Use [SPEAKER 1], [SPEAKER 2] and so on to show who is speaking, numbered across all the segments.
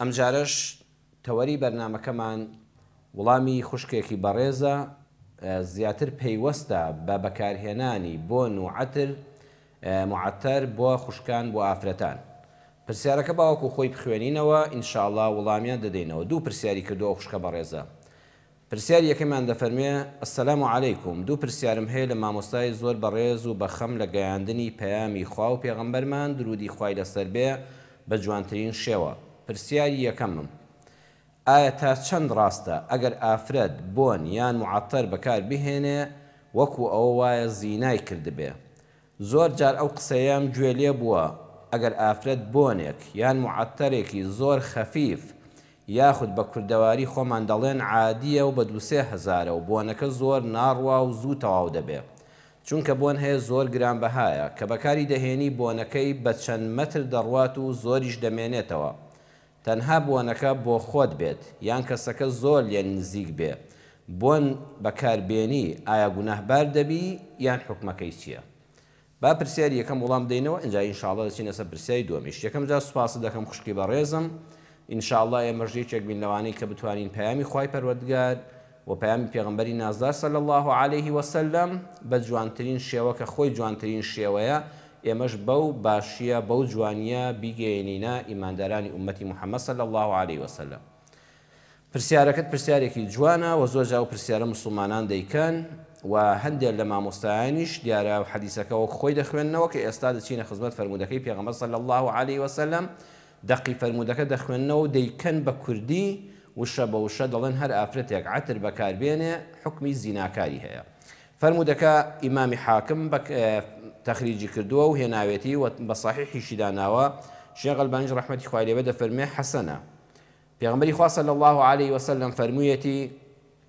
[SPEAKER 1] ئەمجارەش تەوەری بەرنامەکەمان وڵامی خوشکێکی بەڕێزە زیاتر پەیوەستە بە بەکارهێنانی بۆن و عەتر، معطر، بۆ خوشکان بۆ ئافرەتان. پرسیارەکە با وەکو خۆی بخوێنینەوە، ان شاءاللە وڵامیان دەدەینەوە. دوو پرسیاری کردووە ئەو خوشکە بەڕێزە. پرسیاری یەکەمیان دەفەرموێ، السلام علیکم، دوو پرسیارم هەیە لە مامۆستای زۆر بەڕێز و بە خەم لە گەیاندنی پەیامی خوا و پێغەمبەرمان دروودی خوای لەسەر بێ بە جوانترین شێوە. پرسیاری یەکەمم، ئایا تا چەند ڕاستە ئەگەر ئافرەت بۆن یان معەتەر بەکار بهێنێ وەکوو ئەوە وایە زینای کردبێ؟ زۆر جار ئەو قسەیەم گوێ لێ بووە ئەگەر ئافرەت بۆنێک یان معەتەرێکی زۆر خەفیف یاخود بە کوردەواری خۆمان دەڵێن عادییە و بە دوو سێ هەزارە و بۆنەکە زۆر ناڕوا و زوو تەواو دەبێ چونکە بۆن هەیە زۆر گرانبەهایە کە بەکاری دەهێنی بۆنەکەی بە چەند مەتر دەڕوات و زۆریش دەمێنێتەوە تەنها بۆنەکە بۆخۆت بێت یان کەسەکە زۆر لێ نزیک بێ بۆن بەکار بێنی ئایا گوناه بار دەبی یان حوکمەکەی چیە با پرسیاری یەکەم وڵام بدەینەوە ئینجا ان شاءاللە دەچینە سەر پرسیاری دوەمیش یەکەم جار سوپاست دەکەم خوشکی بەڕێزم ان شاءاللە ئێمەش یەکێک بین لەوانەی کە بتوانین پەیامی خوای پەروەردگار وە پەیامی پێغەمبەری نازدار صلی اللە علیە وسلم بە جوانترین شێوە کە خۆی جوانترین شێوەیە ئێمەش بەو باشیە بەو جوانیە بیگەیەنینە ئیماندارانی ئومەتی محمد صلی اللە علیە وسلم پرسیارەکەت پرسیارێکی جوانە وە زۆرجا ئەو پرسیارە موسڵمانان دەیکەن وە هەندێک لە مامۆستایانیش دیارە حەدیسەکە وەک خۆی دەخوێننەوە کە ئێستا دەچینە خزمەت فەرموودەکەی پێغەمبەر صلی اللە علیە وسلم دەقی فەرموودەکە دەخوێننەوە و دەیکەن بە کوردی، وشە بە وشە دەڵێن هەر ئافرەتێک عەتر بەکار بێنێ حوکمی زیناکاری هەیە. فەرموودەکە ئیمامی حاکم بە تەخریجی کردووە و هێناوێتی و بە سەحیحیشی داناوە، شێخ ئەلبانیش ڕەحمەتی خوای لێبێت دەفەرموێ حەسەنە. پێغەمبەری خوا صلی اللە علیە وسلم فەرموویەتی.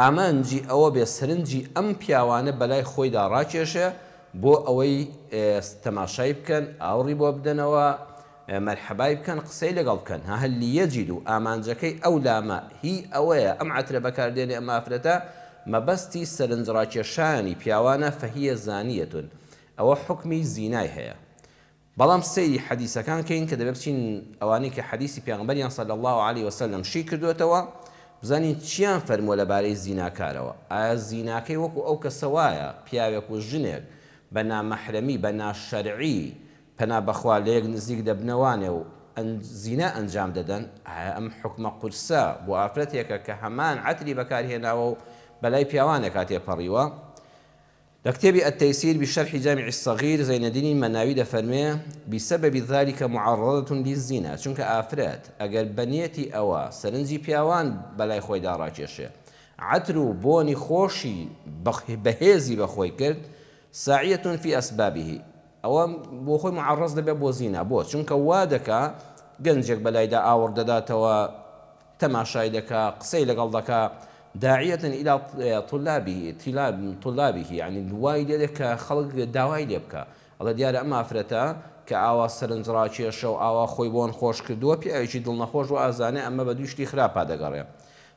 [SPEAKER 1] ئامانجی ئەوە بێ سەرنجی ئەم پیاوانە بەلای خۆیدا ڕاکێشێ بۆ ئەوەی تەماشای بکەن، ئاوڕی بۆ بدەنەوە، مەرحەبای بکەن، قسەی لەگەڵ بکەن. ها هل لیجد و ئامانجەکەی ئەو لامە هی ئەوەیە ئەم عەترە بەکار دێنێ ئەم ئافرەتە مەبەستی سەرنج ڕاکێشانی پیاوانە فهیە زانیە ئەوە حوکمی زینای هەیە بەڵام سەیری حەدیسەکان کەین کە دەبێ بچین ئەوانەی کە حەدیسی پێغەمبەریان صلی اللە علیە و سلم شی کردۆتەوە بزانین چیان فەرمووە لە بارەی زیناکارەوە ئایا زیناکەی وەکو ئەو کەسە وایە پیاوێک و ژنێک بە نامەحرەمی بە ناشەرعی پەنا بەخوا لە یەک نزیک دەبنەوانێ و زینا ئەنجام دەدەن ئایا ئەم حوکمە قورسە بۆ ئافرەتێکە کە هەمان عەتری بەکار هێناوە و بەلای پیاوانێکا تێپەڕیوە لە کتێبی التیسیر بشرح جامع الصغیر زەینەدینی مەناوی دەفەرموێ، بسبب ذلک معرضة للزنا، چونکە ئافرەت ئەگەر بە نیەتی ئەوە سەرنجی پیاوان بەلای خۆیدا ڕاکێشێ، عەتر و بۆنی خۆشی بەهێزی بە خۆی کرد، ساعیە فی اسبابه، ئەوە بۆ خۆی معرض دەبێ بۆ زینا، بۆ؟ چونکە وا دەکا گەنجێک بەلایدا ئاوڕ دەداتەوە، تەماشای دەکا قسەی لەگەڵ دەکا داعیە الی طلابه طلاب طلابه یانی وای لێ دێ کە خەڵک داوای لێ بکا ئەڵێ دیارە ئەم ئافرەتە کە ئاوا سەرنج ڕاکێشە و ئاوا خۆی بۆن خۆش کردووە پیاوێکی دڵ نەخۆش و ئازانێ ئەمە بە دووی شتی خراپا دەگەڕێ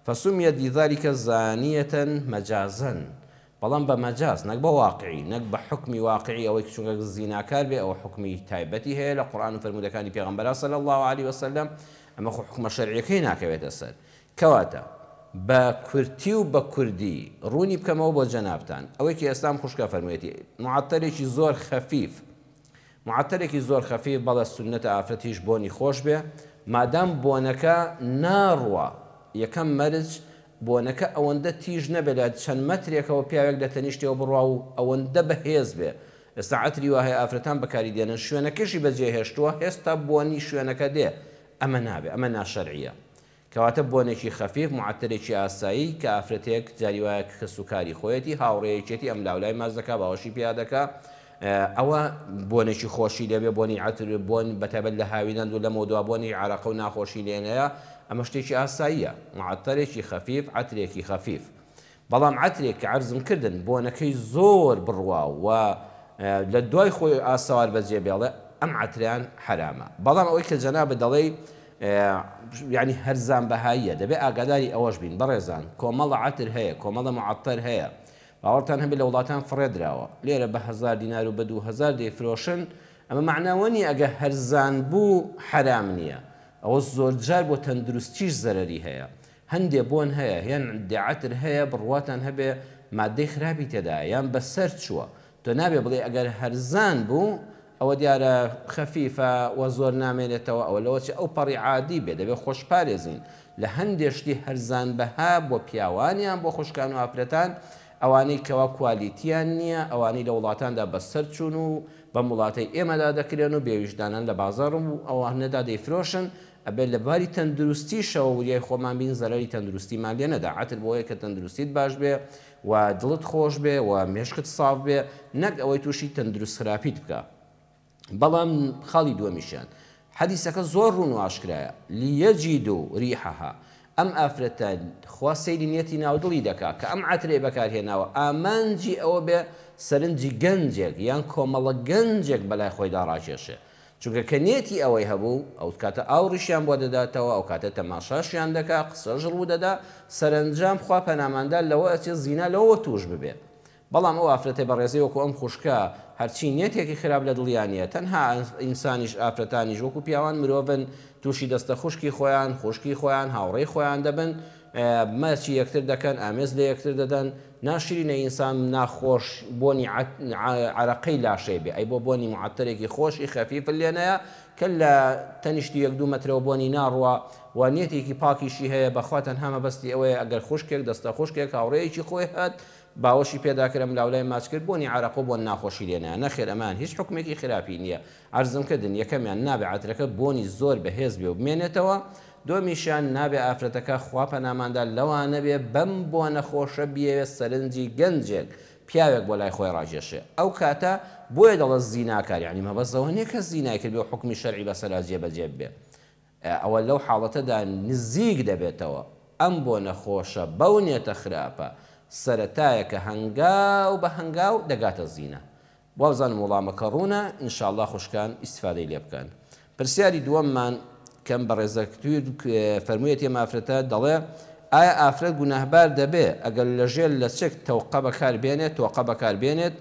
[SPEAKER 1] فسمیت لذلک زانیە مجازا بەڵام بە مەجاز نەک بە واقعی نەک بە حوکمی واقعی ئەوەی کە چونکە کەس زیناکار بێ ئەوە حوکمی تایبەتی هەیە لە قورئان و فەرموودەکانی پێغەمبەرا صلی اللە علیە و سلم ئەمە خۆ حوکمە شەرعیەکەی ناکەوێتە سەر کەواتە بە کورتی و بە کوردی ڕوونی بکەمەوە بۆ جەنابتان ئەوەی کە ئێستا ئەم خوشکە فەرموویەتی معەتەلێکی زۆر خەفیف معەتەرێکی زۆر خەفیف بەڵێ سوننەتە ئافرەتیش بۆنی خۆش بێ مادام بۆنەکە ناڕوا یەکەم مەرج بۆنەکە ئەوەندە تیژ نەبێ لە چەند مەترێکەوە پیاوێک لە تەنیشتیەوە بڕوا و ئەوەندە بە هێز بێ ئێستا عەتری وا هەیە ئافرەتان بەکاری دێنن شوێنەکەشی بەجێ هێشتووە هێستا بۆنی شوێنەکە دێ ئەمە نابێ ئەمە ناشەرعیە کەواتە بۆنێکی خەفیف، معەتەرێکی ئاسایی، کە ئافرەتێک جاری وایە کە کەس و کاری خۆیەتی، هاوڕێیەکیەتی ئەم لاو لای ماچ دەکا باوەشی پیا دەکا، ئەوە بۆنێکی خۆشی لێ بێ، بۆنی عەتر، بۆن بە تایبەت لە هاوینان و لەمەو دوا بۆنی عەرەقە و ناخۆشی لێ نەیە، ئەمە شتێکی ئاساییە، معەتەرێکی خەفیف، عەترێکی خەفیف. بەڵام عەترێک کە عەرزم کردن بۆنەکەی زۆر بڕواو و لە دوای خۆی ئاسەوار بەجێ بێڵێ ئەم عەترەیان حەرامە بەڵام ئەوەی کە جەنابت دەڵێی یانی هەرزان بەهاییە دەبێ ئاگاداری ئەوەش بین بەڕێزان کۆمەڵە عەتر هەیە کۆمەڵە معەتەر هەیە باوەڕتان هەبێ لە وڵاتان فڕێ دراوە لێرە بە هەزار دینار و بە دوو هەزار دەیفرۆشن ئەمە مەعنا ئەوە نییە ئەگەر هەرزان بوو حەرام نییە ئەوە زۆرجار بۆ تەندروستیش زەرەری هەیە هەندێ بۆن هەیە یان عندێ عەتر هەیە بڕواتان هەبێ ماددەی خراپی تێدایە یان بە سەر چووە تۆ نابێ بڵێی ئەگەر هەرزان بوو ئەوە دیارە خەفیفە و زۆر نامێنێتەوە ئەوە لەوە چ ئەو پەڕی عادی بێ دەبێ خۆش پارێزین لە هەندێ شتی هەرزان بەها بۆ پیاوان یان بۆ خوشکان و ئافرەتان ئەوانەی کەوا کوالیتیان نییە ئەوانەی لە وڵاتاندا بە سەر چوون و بەم وڵاتەی ئێمەدا دەکرێن و بێ ویژدانان لە بازاڕ و ئەوانەدا دەیفرۆشن ئەبێت لە باری تەندروستیشەوە وریای خۆمان بین زەرەری تەندروستیمان لێ نەدا، عەتر بۆیە کە تەندروستیت باش بێ و دڵت خۆش بێ و مێشکت ساف بێ نەک ئەوەی تووشی تەندروست خراپیت بکا بەڵام خاڵی دووەمیشیان حەدیسەکە زۆر ڕوون و ئاشکرایە لیەجیدو ریحەها ئەم ئافرەتە خوا سەیری نیەتی ناو دڵی دەکا کە ئەم عەترەی بەکارهێناوە ئامانجی ئەوە بێ سەرنجی گەنجێک یان کۆمەڵە گەنجێک بەلای خۆیدا ڕاکێشێ چونکە کە نیەتی ئەوەی هەبوو، ئەوکاتە ئاوڕیشیان بۆ دەداتەوە، ئەوکاتە تەماشاشیان دەکا، قسەش ڕوودەدا، سەرەنجام خوا پەناماندا لەوە ئەچێت زینا لەوەوە تووش ببێت. بەڵام ئەو ئافرەتە بەڕێزەی وەکو ئەم خوشکە، هەرچی نیەتێکی خراپ لە دڵیا نیە، تەنها ئینسانیش ئافرەتانیش وەکو پیاوان مرۆڤن، تووشی دەستە خوشکی خۆیان، خوشکی خۆیان، هاوڕێی خۆیان دەبن، ماچی یەکتر دەکەن، ئامێز لە یەکتر دەدەن، ناشرینە ئینسان ناخۆش بۆنی عەرەقەی لاشەی بێ ئەی بۆ بۆنی معەتەرێکی خۆشی خەفیف لێ نەیا کە لە تەنیشتی یەک دوو مەترەوە بۆنی ناڕوا و نیەتێکی پاکیشی هەیە بەخوا تەنها مەبەستی ئەوەیە ئەگەر خوشکێک دەستە خوشکێک هاوڕێیەکی خۆی هات باوەشی پێدا کرد ئەملاولای ماچ کرد بۆنی عەرەقە و بۆن ناخۆشی لێ نەیا نەخێر ئەمەیان هیچ حوکمێکی خراپی نیە عەرزم کردن یەکەمیان نابێ عەترەکە بۆنی زۆر بەهێز بێ و بمێنێتەوە دووەمیشیان نابێ ئافرەتەکە خوا پەناماندا لەوانەبێ بەم بۆنە خۆشە بیەوێ سەرنجی گەنجێک پیاوێک بۆ لای خۆی ڕاکێشێ ئەو کاتە بۆیە دەڵێ زیناکار یانی مەبەست ئەوە نیە کە زینای کردبێ و حوکمی شەرعی بەسەرا جێ بەجێ ببێ ئەوە لەو حاڵەتەدا نزیک دەبێتەوە ئەم بۆنە خۆشە بەو نیەتە خراپە سەرەتایەکە هەنگاو بە هەنگاو دەگاتە زینا وابزانم وەڵامەکە ڕوونە ان شاء اللە خوشکان ئیستفادەی لێ بکەن پرسیاری دووەممان کەم بەڕێزە تویر فەرموویەتی ئەم ئافرەتە دەڵێ ئایا ئافرەت گوناهبار دەبێ ئەگەر لەژێر لەچک تەوقە بەکار بێنێت تۆقە بەکار بێنێت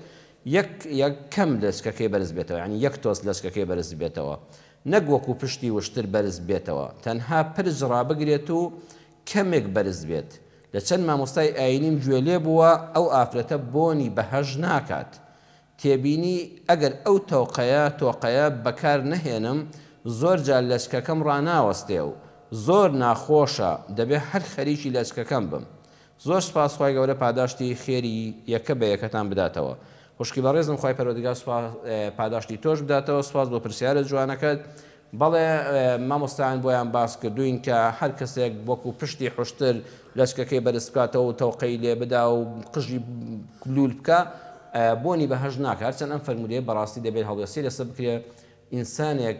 [SPEAKER 1] یەک یەک کەم لەچکەکەی بەرز بێتەوە یانی یەک تۆز لەچکەکەی بەرز بێتەوە نەک وەکو پشتی وشتر بەرز بێتەوە تەنها پرج ڕابگرێت و کەمێک بەرز بێت لە چەند مامۆستای ئاینیم گوێ لێ بووە ئەو ئافرەتە بۆنی بەهەشت ناکات تێبینی ئەگەر ئەو تۆقەیە تۆقەیە بەکار نەهێنم زۆر جار لەچکەکەم ڕاناوەستێ و زۆر ناخۆشە دەبێ هەر خەریکی لەچکەکەم بم زۆر سوپاس خوای گەورە پاداشتی خێری یەکە بە یەکەتان بداتەوە خوشکی بەڕێزم خوای پەروەردگار سوپاس پاداشتی تۆش بداتەوە سوپاس بۆ پرسیارە جوانەکەت بەڵێ مامۆستایان بۆیان باس کردووین کە هەر کەسێک وەکو پشتی حوشتر لەچکەکەی بەرز بکاتەوە و تەوقەی لێ بدا و قژی لوول بکا بۆنی بەهەشت ناکا هەرچەند ئەم فەرموودەیە بەڕاستی دەبێت هەڵوێستی لەسەر بکرێ ئینسانێک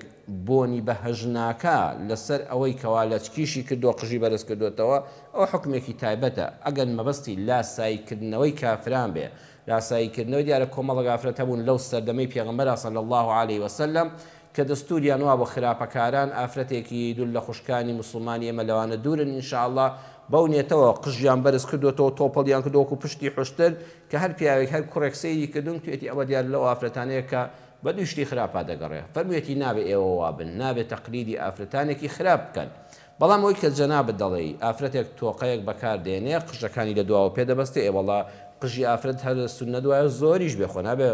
[SPEAKER 1] بۆنی بەهەشت ناکا لەسەر ئەوەی کەوا لەچکیشی کردووە قژی بەرز کردۆتەوە ئەوە حوکمێکی تایبەتە ئەگەر مەبەستی لاساییکردنەوەی کافران بێ لاسایی کردنەوە، دیارە کۆمەڵێک ئافرەت هەبوون لەو سەردەمەی پێغەمبەرا صلی اللە علیە وسلم کە دەستوریان وابوو خراپەکاران ئافرەتێکی دوور لە خوشکانی موسڵمانی ئێمە لەوانە دوورن ان شاء اللە بەو نیەتەوە قژیان بەرز کردۆتەوە تۆپەڵیان کردوە وەکو پشتی حوشتر کە هەر پیاوێک هەر کوڕێک سەیری کردون توێتی ئەوە دیارە لەو ئافرەتانەیە کە بە دووی شتی خراپا دەگەڕێ فەرمویەتی نابێ ئێوە وابن نابێ تەقلیدی ئافرەتانێکی خراپ بکەن بەڵام ئەوەی کە جەنابت دەڵێی ئافرەتێک تۆقەیەک بەکار دێنێ قژەکانی لە دواوە پێ دەبەستێ ئێ وەڵا قژی ئافرەت هەر سوننەت وایە زۆریش بێ خۆ نابێ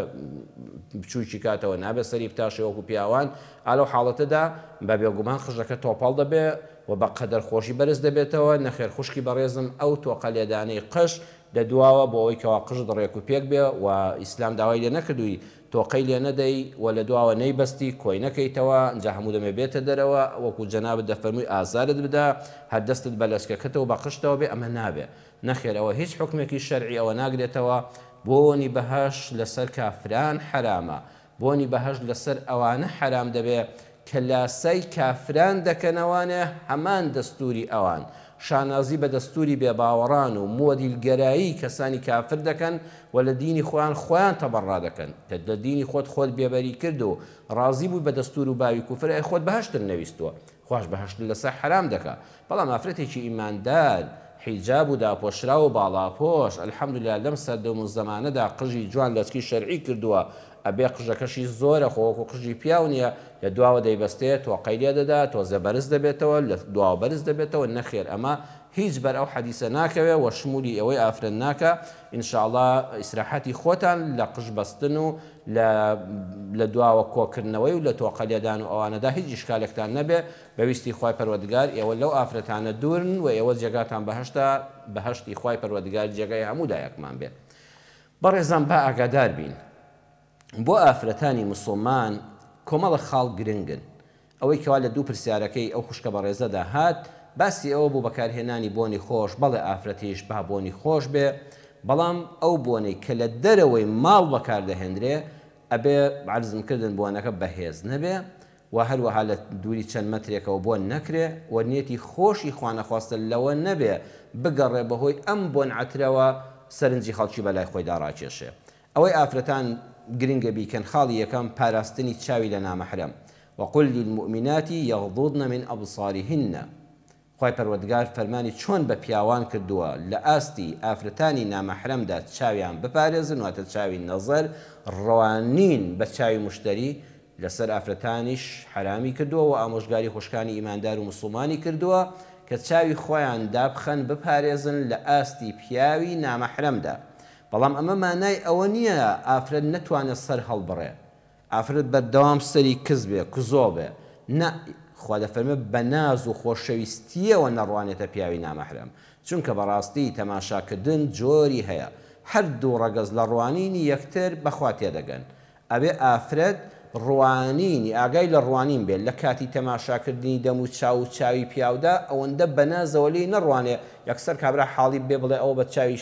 [SPEAKER 1] بچووکی کاتەوە نابێ سەری بتاشێ وەکو پیاوان ئا لەو حاڵەتەدا بە بێگومان قژەکە تۆپەڵ دەبێ و بە قەدەر خۆشی بەرز دەبێتەوە نەخێر خوشکی بەڕێزم ئەو تۆقە لێدانەی قژ لە دواوە بۆ ئەوەی کەوا قژت ڕێک و پێک بێ و ئیسلام داوای لێ نەکردووی تۆقەی لێ نەدەی و لە دواوە نەیبەستی کۆی نەکەیتەوە ئنجا هەموو دەمێ بێتە دەرەوە وەکو جەنابت دەفەرمووی ئازارت بدا هەر دەستت بە لەچکەکەت و بە قژتەوە بێ ئەمە نابێ نەخێر ئەوە هیچ حوکمێکی شەرعی ئەوە ناگرێتەوە بۆنی بەهەشت لەسەر کافران حەرامە بۆنی بەهەشت لەسەر ئەوانە حەرام دەبێ کە لاسای کافران دەکەنەوانە هەمان دەستوری ئەوان شانازی بە دەستوری بێ باوەڕان و مۆدیل گەرایی کەسانی کافر دەکەن و لە دینی خۆیان خۆیان تەبەڕا دەکەن کە لە دینی خۆت خۆت بێ بەری کرد و ڕازی بووی بە دەستور و باوی کوفر ئەی خۆت بەهەشتت نەویستووە خواش بەهەشت لەسەر حەرام دەکا بەڵام ئافرەتێکی ئیماندار حیجاب و داپۆشراو و باڵاپۆش الحمدللە لەم سەردەم و زەمانەدا قژی جوان لەچکی شەرعی کردووە ئەبێ قژەکەشی زۆرە خۆ وەکو قژی پیاو نیە لە دواوە دەیبەستێ تۆقەی لێ دەدا تۆزێ بەرز دەبێتەوە لە دواوە بەرز دەبێتەوە نەخێر ئەمە هیچ بەر ئەو حەدیسە ناکەوێ وە شمولی ئێوەی ئافرەت ناکا ان شاء اللە ئیسراحەتی خۆتان لە قژ بەستن و لە لە دواوە کۆکردنەوەی و لە تۆقە لێدان و ئەوانەدا هیچ ئیشکالێکتان نەبێ بە ویستی خوای پەروەردگار ئێوە لەو ئافرەتانە دورن وە ئێوە جێگاتان بەهەشتە بەهەشتی خوای پەروەردگار جێگای هەموو لایەکمان بێ بەڕێزان با ئاگادار بین بۆ ئافرەتانی مسوڵمان کۆمەڵە خاڵ گرنگن ئەوەی کەوا لە دوو پرسیارەکەی ئەو خوشکە بەڕێزەدا هات باسی ئەوە بوو بەکارهێنانی بۆنی خۆش بەڵێ ئافرەتیش با بۆنی خۆش بێ بەڵام ئەو بۆنەی کە لە دەرەوەی ماڵ بەکار دەهێندرێ ئەبێ عەرزم کردن بۆنەکە بەهێز نەبێ و هەروەها لە دووری چەند مەترێکەوە بۆن نەکرێ و نیەتی خۆشی خوانەخواستە لەوە نەبێ بگەڕێ بەهۆی ئەم بۆن عەترەوە سەرنجی خەڵکی بەلای خۆیدا ڕاکێشێ ئەوەی ئافرەتان گرنگە بیکەن خاڵی یەکەم پاراستنی چاوی لە نامەحرەم وقل للمومنات یغضوضن من ابصارهن خوای پەروەردگار فەرمانی چۆن بە پیاوان کردووە لە ئاستی ئافرەتانی نامەحرەمدا چاویان بپارێزن واتە چاوی نەزەر ڕوانین بە چاوی موشتەری لەسەر ئافرەتانیش حەرامی کردووە وە ئامۆژگاری خوشکانی ئیماندار و موسڵمانی کردووە کە چاوی خۆیان دابخەن بپارێزن لە ئاستی پیاوی نامەحرەمدا بەڵام ئەمە مانای ئەوە نییە ئافرەت نەتوانێت سەر هەڵبڕێ ئافرەت بەردەوام سەری کز بێ کزۆڵ بێ نە خوا دەفەرمێ بە ناز و خۆشەویستیەوە نەڕوانێتە پیاوی نامەحرەم چونکە بەڕاستی تەماشا کردن جۆری هەیە هەر دوو ڕەگەز لە ڕوانینی یەکتر بەخوا تێدەگەن ئەبێ ئافرەت ڕوانینی ئاگای لە ڕوانین بێ لە کاتی تەماشا کردنی دەم و چاو و چاوی پیاودا ئەوەندە بە نازەوە لێی نەڕوانێ یەکسەر کابرا حاڵی بێ بڵێ ئەوە بە چاوی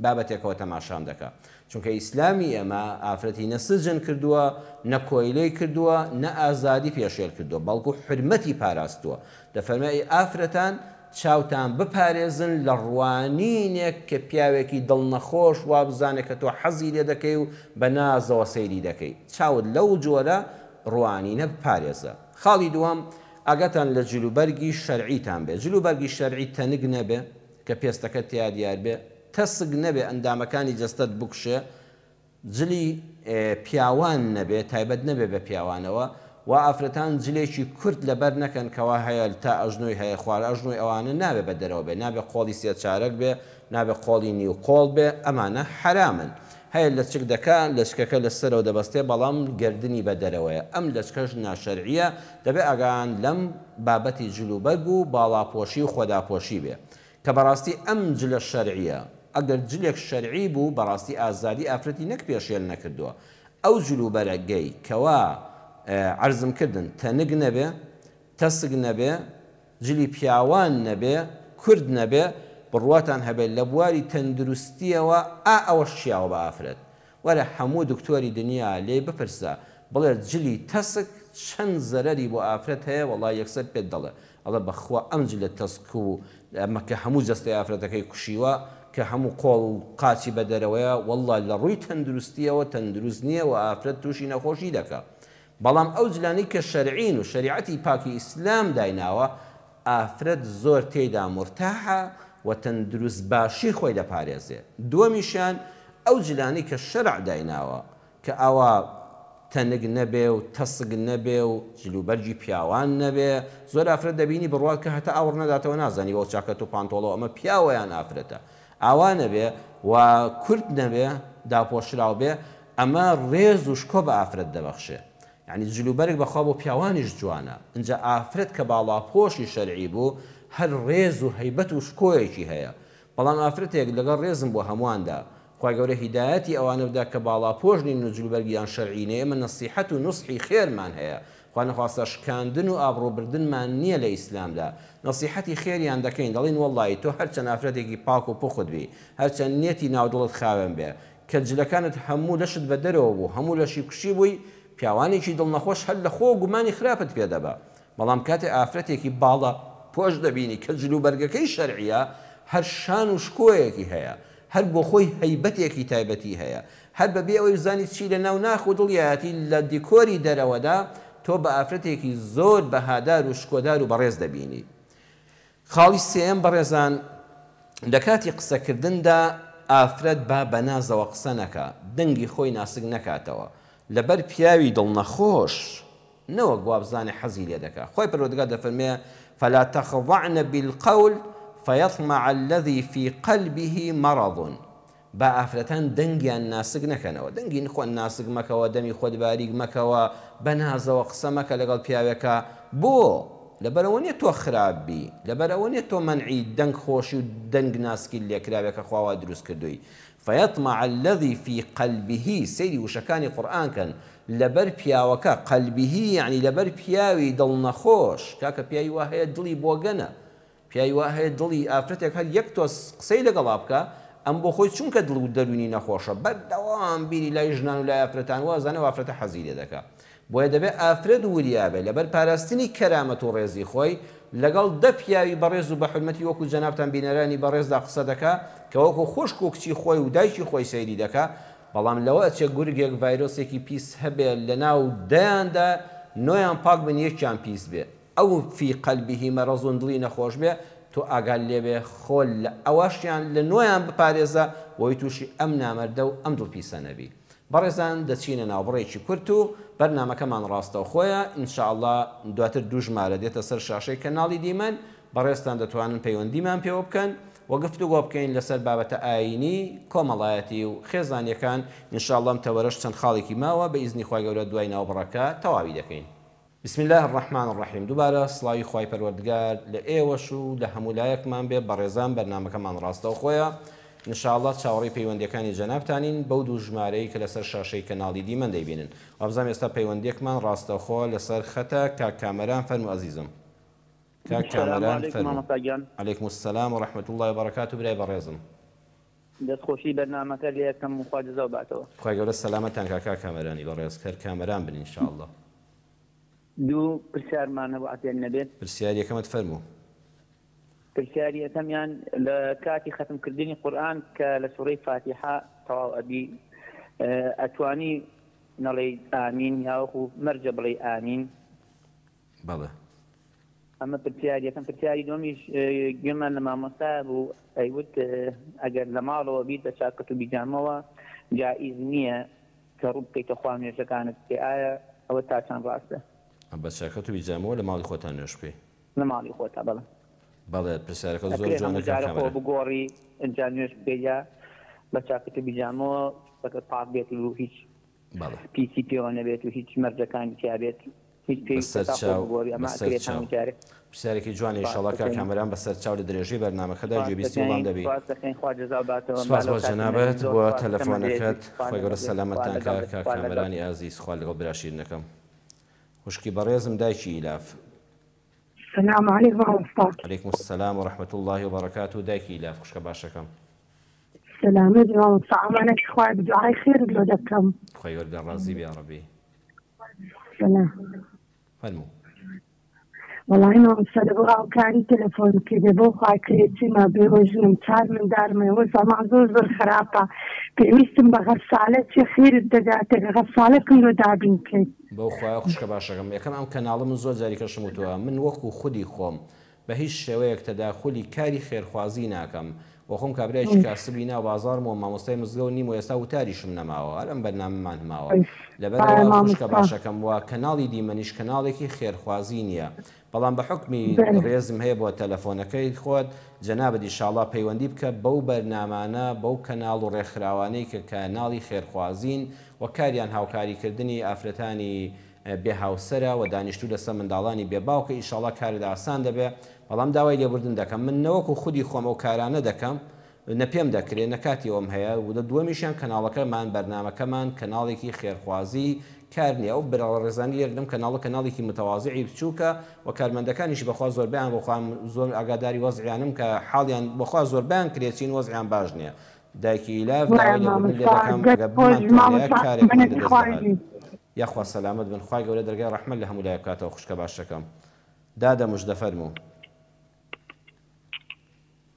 [SPEAKER 1] بابەتێکەوە تەماشام دەکا چونکە ئیسلامی ئێمە ئافرەتی نە سجن کردووە، نە کۆیلەی کردووە، نە ئازادی پێشێل کردووە، بەڵکو حورمەتی پاراستووە. دەفەرمێ، ئەی ئافرەتان چاوتان بپارێزن لە ڕوانینێک کە پیاوێکی دڵ نەخۆش وابزانێ کە تۆ حەزی لێ دەکەی و بە نازەوە سەیری دەکەی. چاوت لەو جۆرە ڕوانینە بپارێزە. خاڵی دووەم، ئاگاتان لە جلوبەرگی شەرعیتان بێ. جلوبەرگی شەرعی تەنک نەبێ کە پێستەکەت تیا دیار بێ. تەسک نەبێ ئەندامەکانی جەستەت بکوشێ جلی پیاوان نەبێ تایبەت نەبێ بە پیاوانەوە وا ئافرەتان جلێکی کورت لەبەر نەکەن کەوا هەیە تا ئەژنۆی هەیە خوار ئەژنۆی ئەوانە نابێ بە دەرەوە بێ نابێ قۆڵی سێ چارەک بێ نابێ قۆڵی نیو قۆڵ بێ ئەمانە حەرامن هەیە لەچک دەکا لەچکەکە لە سەرەوە دەبەستێ بەڵام گەردنی بە دەرەوەیە ئەم لەچکەش ناشەرعیە دەبێ ئاگایان لەم بابەتی جلوبەرگ و باڵاپۆشی و خۆداپۆشی بێ کە بەڕاستی ئەم جلە شەرعیە ئەگەر جلێک شەرعی بوو بەڕاستی ئازادی ئافرەتی نەک پێشێل نەکردووە ئەو جل و بەرە گەی کەوا عەرزم کردن تەنک نەبێ تەسک نەبێ جلی پیاوان نەبێ کورت نەبێ بڕواتان هەبێ لە بواری تەندروستیەوە ئا ئەوەش چیاوە بە ئافرەت وەرە حەموو دکتۆری دنیا لێی بپرسە بڵێت جلی تەسک چەن زەرەری بۆ ئافرەت هەیە وەڵا یەکسەر پێت دەڵێ ئەڵێ بەخوا ئەم جلە تەسک و ئەمە کە هەموو جەستەی ئافرەتەکەی کوشیوە کە هەموو قۆڵ و قاچی بە دەرەوەیە وەڵا لە ڕووی تەندروستیەوە تەندروست نیە وە ئافرەت توشی نەخۆشی دەکا بەڵام ئەو جلانەی کە شەرعین و شەریعەتی پاکی ئیسلام دایناوە ئافرەت زۆر تێیدا مورتاحە و تەندروست باشی خۆی دەپارێزێ دووەمیشیان ئەو جلانەی کە شەرع دایناوە کە ئاوا تەنک نەبێ و تەسک نەبێ و جل و بەرگی پیاوان نەبێ زۆر ئافرەت دەبینی بڕوات کە هەتا ئاوڕ نەداتەوە نازانی بەو چاکەت و پانتۆڵە و ئەمە پیاوە یان ئافرەتە ئاوا نەبێ و کورت نەبێ داپۆشراو بێ ئەمە ڕێز و شکۆ بە ئافرەت دەبەخشێ یانی جل و بەرگ بەخوا بۆ پیاوانیش جوانە ئنجا ئافرەت کە باڵاپۆشی شەرعی بوو هەر ڕێز و هەیبەت و شکۆیەکی هەیە بەڵام ئافرەتێک لەگەڵ ڕێزم بۆ هەمواندا خوای گەورە هیدایەتی ئەوانە بدا کە باڵاپۆش نین و جلوبەرگیان شەرعی نیە ئێمە نەسیحەت و نوسحی خێرمان هەیە خوا نەخواستە شکاندن و ئابڕوو بردنمان نیە لە ئیسلامدا نەسیحەتی خێریان دەکەین دەڵێین وەڵایی تۆ هەرچەند ئافرەتێکی پاک و پوخت بی هەرچەند نیەتی ناو دڵت خاوێن بێ کە جلەکانت هەموو لەشت بە دەرەوە بوو هەموو لەشی کوشی بووی پیاوانێکی دڵ نەخۆش هەر لە خۆ گومانی خراپت پێ دەبا بەڵام کاتێ ئافرەتێکی باڵە پۆش دەبینی کە جل و بەرگەکەی شەرعیە هەر شان و شکۆیەکی هەیە هەر بۆ خۆی هەیبەتێکی تایبەتی هەیە هەر بە بێ ئەوەی بزانی چی لە ناو ناخ و دڵیاتی لە دیکۆری دەرەوەدا تۆ بە ئافرەتێکی زۆر بەهادار و شکۆدار و بەڕێز دەبینی خاڵی سێیەم، بەڕێزان لە کاتی قسە کردندا ئافرەت با بە نازەوە قسە نەکا، دەنگی خۆی ناسک نەکاتەوە، لەبەر پیاوی دڵ نەخۆش نەوەک وابزانێ حەزی لێ دەکا، خوای پەروەردگار دەفەرموێ، فلا تخضعن بالقول فیطمع الذی فی قلبه مرض، با ئافرەتان دەنگیان ناسک نەکەنەوە، دەنگی خۆت ناسک مەکەوە، دەمی خۆت باریک مەکەوە، بە نازەوە قسە مەکە لەگەڵ پیاوێکا، بۆ؟ لەبەر ئەوە نیە تۆ خراپ بی، لەبەر ئەوە نیە تۆ مەنعی دەنگ خۆشی و دەنگ ناسکیت لێکراوێ کە خوا وا دروست کردووی، فیطمع الذی فی قلبه سەیری وشەکانی قورئان کەن، لەبەر پیاوەکە، قلبه یەعنی لەبەر پیاوی دڵ نەخۆش، کاکە پیاوی وا هەیە دڵی بۆگەنە، پیاوی وا هەیە دڵی ئافرەتێک هەر یەک تۆز قسەی لەگەڵا بکا ئەم بۆ خۆی چونکە دڵ و دەروونی نەخۆشە بەردەوام بیری لای ژنان و لای ئافرەتان وا ئەزانێ ئەو ئافرەتە حەزی لێ دەکا بۆیە دەبێ ئافرەت وریا بێ لەبەر پاراستنی کەرامەت و ڕێزی خۆی لەگەڵ دە پیاوی بەڕێز و بە حورمەتی وەکو جەنابتان بینەرانی بەڕێزدا قسە دەکا کە وەکو خوشک و کچی خۆی و دایکی خۆی سەیری دەکا بەڵام لەوە ئەچێ گورگێک ڤایرۆسێکی پیس هەبێ لەناو دەیاندا نۆیان پاک بن یەکیان پیس بێ او فی قلبه مرض دڵی نەخۆش بێ تۆ ئاگات لێبێ خۆ لە ئەواشیان لە نۆیان بپارێزە بۆی توشی ئەم نامەردە و ئەم دڵ پیسە نەبی بەڕێزان دەچینە ناوبڕێکی کورت و بەرنامەکەمان ڕاستەوخۆیە ان شاء اللە دواتر دوو ژمارە دێتە سەر شاشەی کەناڵی دیمەن بەڕێزتان دەتوانن پەیوەندیمان پێوە بکەن و گفتوگۆ بکەین لەسەر بابەتە ئاینی کۆمەڵایەتی و خێزانیەکان ان شاء اللە ئەم تەوەرەش چەند خاڵێکی ماوە بە ئیزنی خوای گەورە دوای ناوبڕەکە تەواوی دەکەین. بسم اللە الرحمن الرحیم دوبارە سڵاوی خوای پەروەردگار لە ئێوەش و لە هەموولایەکمان بێ بەڕێزان بەرنامەکەمان ڕاستەوخۆیە ان شاء اللە چاوەڕێی پەیوەندیەکانی جەنابتانین بەو دوو ژمارەی کە لەسەر شاشەی کەناڵی دیمەن دەیبینن وابزانم ئێستا پەیوەندیەکمان ڕاستەوخۆ لەسەر خەتە کاک کامەران فەرموو ئەزیزم کاک کامەران فەرموو علیکم السلام و رحمەت اللە و بەڕەکاتو برای بەڕێزم. دەست
[SPEAKER 2] خۆشی بەرنامەکە لێکەم و خوا جزاو باتەوە. خوای گەورە سەلامەتتان کا
[SPEAKER 1] کاک کامەرانی بەڕێز هەر کامەران بن ان شاء اللە.
[SPEAKER 2] دوو پرسیارمان هەبوو عەفێت نەبێت. پرسیاری یەکەمت فەرموو. پرسیاری یەکەمیان لە کاتی خەتم کردنی قورئان کە لە سورەی فاتیحە تەواو ئەبی ئەتوانی نەڵێی ئامین یاوەکو مەرجە بڵێی ئامین؟
[SPEAKER 1] بەڵێ.
[SPEAKER 2] ئەمە پرسیار یەکەم پرسیاری دووەمیش گوێمان لە مامۆستایە بوو ئەیوت ئەگەر لە ماڵەوە بیت بە چاکەت و بیجامەوە جائیز نییە کە ڕوو بکەیتە خوا و نوێژەکانت بکەی ئایا ئەوە تا چەند ڕاستە؟ بە چاکەت و
[SPEAKER 1] بیجامەوە لە ماڵی خۆتا نوێژ بکەی؟ لە ماڵی خۆتا
[SPEAKER 2] بەڵێ. بەڵێ
[SPEAKER 1] پرسیارەکە زۆر جوانە کاک کامەران. ئەکرێ هەموو جارە خۆ بگۆڕی
[SPEAKER 2] ئینجا نوێژ بکەی یا بە چاکەت و بیجامەوە دەستەکەت پاک بێت و هیچ پیسی پێوە نەبێت و هیچ مەرجەکانی تیابێت هیچ پێویستە تا خۆ بگۆری ئەمە ئەکرێت هەموو
[SPEAKER 1] جارێک. پرسیارێکی جوانە ئیشەڵا کاک کامەران بەسەر چاو لە درێژەی بەرنامەکەدا گوێبیستی وڵام دەبی. سپاس دەکەین خوا جەزا باتەوە. سپاس بۆ جەنابت بۆ تەلەفۆنەکەت خوای گەورە سەلامەتتان کات کاک کامەرانی ئازیز خوا لەگەڵ برا شیرنەکەم خوشکی بەڕێزم دایکی ئیلاف.
[SPEAKER 3] سلام علیک مامۆستا. علیکم السلام
[SPEAKER 1] و رحمە اللە و بەڕەکاتوو دایکی لاف خوشکە باشەکەم.
[SPEAKER 3] سەلامەت مامۆستا ئامانەکی خوایە بە دوعای خێرت لۆ دەکەم. خوای گەورە ڕازی
[SPEAKER 1] بێ یاڕەبی. سلام. فەرموو.
[SPEAKER 3] وەڵاهی مامۆستا لەبۆ هاوکاری تەلەفۆنم کردێ بۆ خوا کرێچیمە بێوە ژنم چار مندارمە ئێوە زەمان زۆر زۆر خراپە پێویستم بە غەسالە چێ خێرت دەگاتێک غەسالەکم لۆ دابین کەیت بەو خوایە خوشکە
[SPEAKER 1] باشەکەم یەکەم ئەم کەناڵە من زۆر جاری پێشم وتوە من وەکو خودی خۆم بە هیچ شێوەیەک تەداخولی کاری خێرخوازی ناکەم وە خۆم کابرایەکی کاسبی ناو بازاڕم وە مامۆستای مزگەوت نیم وە ئێستا وتاریشم نەماوە هەر ئەم بەرنامەمان هەماوە لەبەرئەوە خوشکە باشەکەم وە کەناڵی دیمەنیش کەناڵێکی خێرخوازی نیە بەڵام بە حوکمی بەلێ. ڕێزم هەیە بۆ تەلەفۆنەکەی خۆت جەنابت ئیشاڵا پەیوەندی بکە بەو بەرنامانە بەو کەناڵ و ڕێکخراوانەی کە کە ناڵی خێرخوازین وە کاریان هاوکاری کردنی ئافرەتانی بێ هاوسەرە وە دانیشتوو لە سە منداڵانی بێ باوکە ئیشاڵا کارت ئاسان دەبێ بەڵام داوای لێبوردن دەکەم من نەوەکو خودی خۆم ئەو کارانە دەکەم نە پێم دەکرێ نە کاتی ئەوەم هەیە و لە دووەمیشیان کەناڵەکەمان، بەرنامەکەمان، کەناڵێکی خێرخوازی کار نیە ئەو بەرەڕەڕێزانە لێرە لەم کەناڵە کەناڵێکی متەوازعی بچووکە و کارمەندەکانیشی بەخوا زۆربەیان بەخوا زۆر ئاگاداری وەزعیانم کە حاڵیان بەخوا زۆربەیان کرێچین وەزعیان باش نیە دایکی ئیلاف داوای لێبوردن لێ دەکەم ئەگەر بمانتان هەیە کارێکمان لە دەست دەهات یاخوا سەلامەت بن خوای گەورە دەرگای ڕەحمەت لە هەموو لایەک بکاتەوە خوشکە باشەکەم دادە مژدە فەرموو.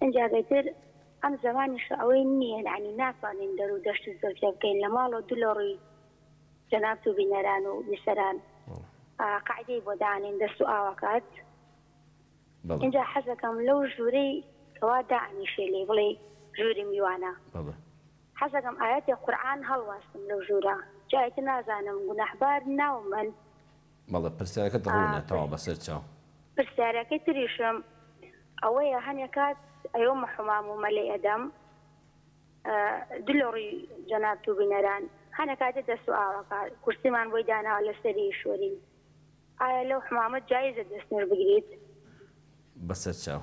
[SPEAKER 4] ئینجا ئیتر ئەم زەمانیشە ئەوەی نییە، یەعنی ناتوانین دەر و دەشت و زەوجە بکەین لە ماڵ و دو لە ڕووی جەنابت و بینەران و بیسەران قاعیدەی بۆ دانێن دەست و ئاوەکات ئینجا حەزەکەم لەو ژوورەی کەوا دائەنیشێ لێی بڵێی ژووری میوانە حەزەکەم ئایەتێ قورعان هەڵواستم لەو ژوورە جا ئیتر نازانم گوناحبار ناومەن بەڵێ
[SPEAKER 1] پرسیارەکەت ڕوونە تەواو بەسەر چاو. پرسیارەکەی
[SPEAKER 4] تریشم ئەوەیە هەنێ کات ئەیۆمە حومام و مەلێ ئەدەم دلۆڕی جەنابت و بینەران هەنێ کات دێتە سوئاڵەکە کورسیمان بۆی داناوە لەسەری ئیشوەرین ئایا لەو حومامە جایزە دەست نوێژ بگریت؟
[SPEAKER 1] بەسەر چاو.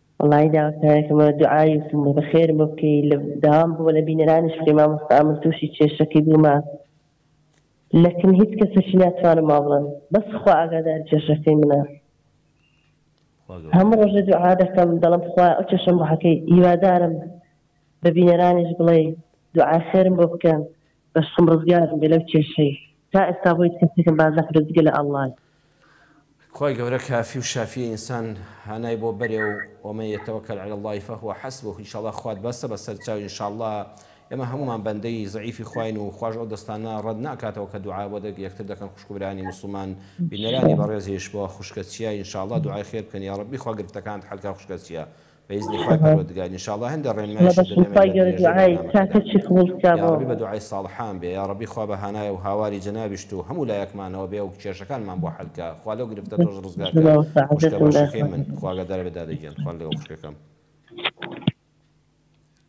[SPEAKER 1] وەڵایی
[SPEAKER 5] داواکارێکم لە دوعای و سمو بەخێرم بۆ بکەی لە داوام بوو لە بینەرانیش بکەی مامۆستا من توشی کێشەکەی بوومە لەکن هیچ کەسەکی ناتوانم وابڵێم بەس خوا ئاگاداری کێشەکەی منە هەموو ڕۆژێ دوعا دەکەم دەڵم خوا ئەو کێشەم بۆ حەکەی هیوادارم بە بینەرانیش بڵێ دوعا خێرم بۆ بکەن بەشکم ڕزگارم بێ لەو کێشەی تا ئێستا بۆ هیچ کەسێکم باس نەکردوە جگە لە اللە. خوای
[SPEAKER 1] گەورە کافی و شافی ئینسان هانای بۆ بەرێ و ومن یتوکل علی اللە فهو حسبه انشااللە خوات بەسە بەسەر چاوی انشااللە ئێمە هەموومان بەندەی زەعیفی خواین و خواش ئەو دەستانە ڕەت ناکاتەوە کە دوعا بۆ یەکتر دەکەن خوشک و برایانی موسڵمان بینەرانی بەڕێزیش بۆ خوشکە چیا انشااللە دوعای خێر بکەن یاڕەبی خوا گرفتەکانت حەل کا خوشکە چیا بە ئیزنی خوای پەروەردگار ان شاءاللە هەندێ ڕێنمایشت دەدەم لە درێژەی بەرنامەکەدا یاڕەبی بە دوعای ساڵحان بێ یاڕەبی خوا بە هانای و هاواری جەنابیشت و هەموو لایەکمانەوە بێ و کێشەکانمان بۆ حەل کا خوا لەو گرفتە تۆش ڕزگار کا خوشکە باشەکەی من خوا ئاگاداربێ دادە گیان خوا لەگەڵ خوشکەکەم.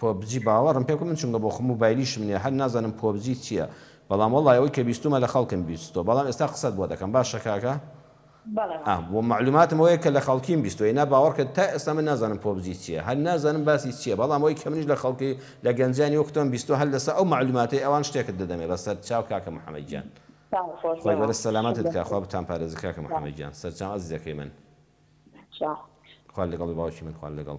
[SPEAKER 4] پۆبجی
[SPEAKER 1] باوەڕم پێ بکە من چونکە بۆخۆم موبایلیشم نیە هەر نازانم پۆبجی چیە بەڵام وەڵای ئەوەی کە بیستومە لە خەڵکم بیستوە بەڵام ئێستا قسەت بۆ دەکەم باشە کاکە ئا بۆ مەعلوماتم ئەوەیە کە لە خەڵکیم بیستوە ئینا باوەڕکە تا ئێستا من نازانم پۆبجی چیە هەر نازانم باسی چیە بەڵام ئەوەی کە منیش لە خەڵکی لە گەنجانی وەک تۆم بیستوە هەر لەسەر ئەو مەعلوماتەی ئەوان شتێکت دەدەمێ بەسەر چاو کاکە محمد گیان خوای گەورە سەلامەتت کا خوا بتان پارێزی کاکە محمد گیان سەرچاو ئەزیزەکەی من خوا لەگەڵی باوکی من خوا لەگەڵ.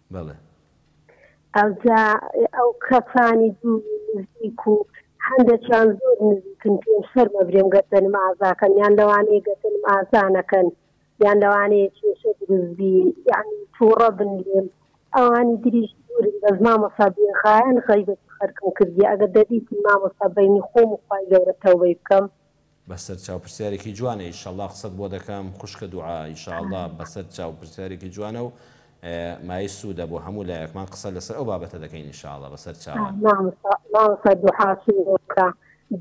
[SPEAKER 3] بەڵێ.
[SPEAKER 1] ئەوجا
[SPEAKER 3] ئەو کەسانی دوور و نزیک و هەندەکیان زۆر نزیکن پێم شەرمە برێم گەر دەنم ئازاکەن یان لەوانەیە گەر دەنم ئازا نەکەن یان لەوانەیە کێشە دروست بی یانی توڕە بن لێم ئەوانی دریش دوورن بەس مامۆسا بێغایەن غەیبەتی خەرکم کردیە ئەگەر دەدیتن مامۆستا بەینی خۆم و خوای گەورە تەوبەی بکەم بەسەر چاو
[SPEAKER 1] پرسیارێکی جوانە ئیشەڵا قسەت بۆ دەکەم خوشکە دوعا ئیشەڵا بەسەر چاو پرسیارێکی جوانە و مایەی سوودە بۆ هەموو لایەکمان قسە لەسەر ئەو بابەتە دەکەین ئیشەڵا بەسەر چاوان. مامۆستا مامۆستا
[SPEAKER 3] دوحاشم بۆ بکە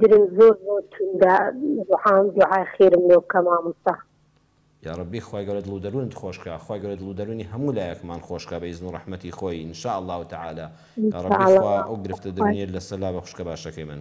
[SPEAKER 3] درم زۆر زۆر توندە دوحام دوحای خێرم لۆ بکە مامۆستا. یاڕەبی
[SPEAKER 1] خوای گەورە دڵ و دەروونت خۆشکا خوای گەورە دڵ و دەروونی هەموو لایەکمان خۆشکا بە ئیزن و ڕەحمەتی خۆی ان شاء اللە تعالی یاڕەبی خوا ئەو گرفتە دەروونیەت لەسەر لابە خوشکە باشەکەی من.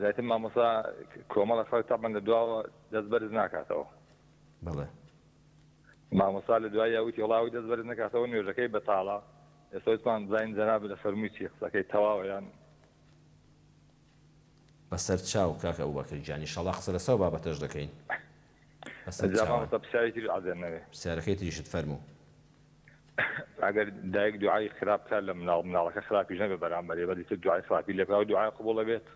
[SPEAKER 6] زیاتر مامۆسا کۆمەڵە خەڵک تاعبان لە دواوە دەست بەرز ناکاتەوە بڵێ مامۆسا لە دوای یاوتی وڵاوی دەست بەرز نکاتەوە نوێژەکەی بەتاڵە ئێسۆتمان بزانین جەناب لە فەرمووی چی قسەکەی تەواویان
[SPEAKER 1] بەسەر چاو کاکە ئەو بەکر گیانی شەڵا قسە لەسا و بابەتەش دەکەین پرسیارەکەی
[SPEAKER 6] تریشت فەرموو ئەگەر دایک دوعای خراپ بکات لە مناڵ مناڵەکە خراپیش نەبێت بەرامبەر ئێمە ئیتر دوعای خراپی لێ بکات ئەوە دوعای قبوڵ ئەبێت؟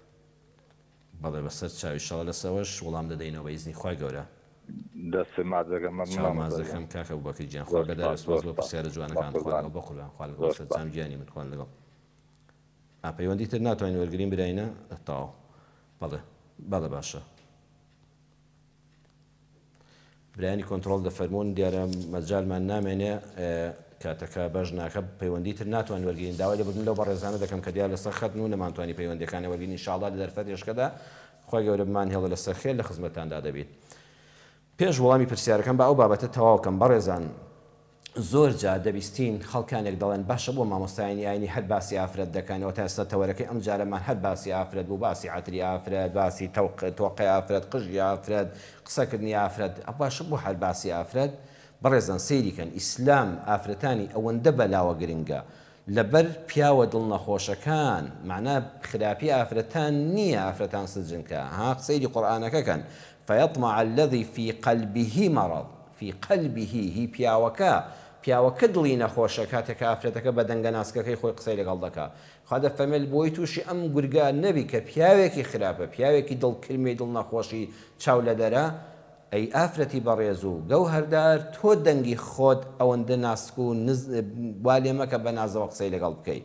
[SPEAKER 1] بەڵێ بەسەر چاوی ئیشاڵا لەس ئەوەش وڵام دەدەینەوە بە ئیزنی خوای گەورە. دەست
[SPEAKER 6] ماچ دەکەم مەمنونم مامۆستا گیان. چاو ماچ دەکەم کاک
[SPEAKER 1] ئەبوبەکر گیان خوا لەدار و سپاس بۆ پرسیارە جوانەکانت خوا لەگەڵ بەقوربان خوا لەگەڵ سەرجەم گیانی من خوان لەگەڵ ئا پەیوەندی تر ناتوانین وەرگرین براینە تەواو بەڵێ بەڵێ باشە. برایانی کۆنتڕۆڵ دەفەرموون دیارە مەجالمان نامێنێ کاتەکە بەش ناکە پەیوەندی تر ناتوان وەرگین داوای لەبردن لەو بەڕێزانە دەکەم کە دیار لەسەر خەتن و نەمانتوانی پەیوەندەکانە وەرگین انشاءاللە لە دەرفەت یشکەدا خۆی گەورە بمان هێڵە لەسەر خێر لە خزمەتاندا دەبیت پێش وەڵامی پرسیارەکەم با ئەو بابەتە تەواوکەم بەڕێزان زۆر جار دەبیستین خەڵکانێک دەڵێن باشە بۆ مامۆستایانی ئاینی هەر باسی ئافرەت دەکەن ئەوە تا ئێستا تەوەرەکەی ئەم جارەمان هەر باسی ئافرەت بوو باسی عەتری ئافرەت باسی تەوق تۆقەی ئافرەت قژی ئافرەت قسە کردنی ئافرەت باشە بۆ هەر باسی ئافرەت بەڕێزان سەیری کەن ئیسلام ئافرەتانی ئەوەندە بەلاوە گرنگە لەبەر پیاوە دڵ نەخۆشەکان مەعنا خراپی ئافرەتان نیە ئافرەتان سجنکە ها سەیری قورئانەکە کەن فیطمع الذی فی قلبه مرض فی قلبه هی پیاوەکە پیاوەکە دڵی نەخۆشە کاتێک کە ئافرەتەکە بە دەنگە ناسکەکەی خۆی قسەی لەگەڵ دەکا خوا دەفەرمێت بۆی توشی ئەم گورگە نەبی کە پیاوێکی خراپە پیاوێکی دڵ کرمێی دڵ نەخۆشی چاو لەدەرە ئەی ئافرەتی بەڕێز و گەوهەردار تۆ دەنگی خۆت ئەوەندە ناسک و نز وا لێ مەکە بە نازەوە قسەی لەگەڵ بکەی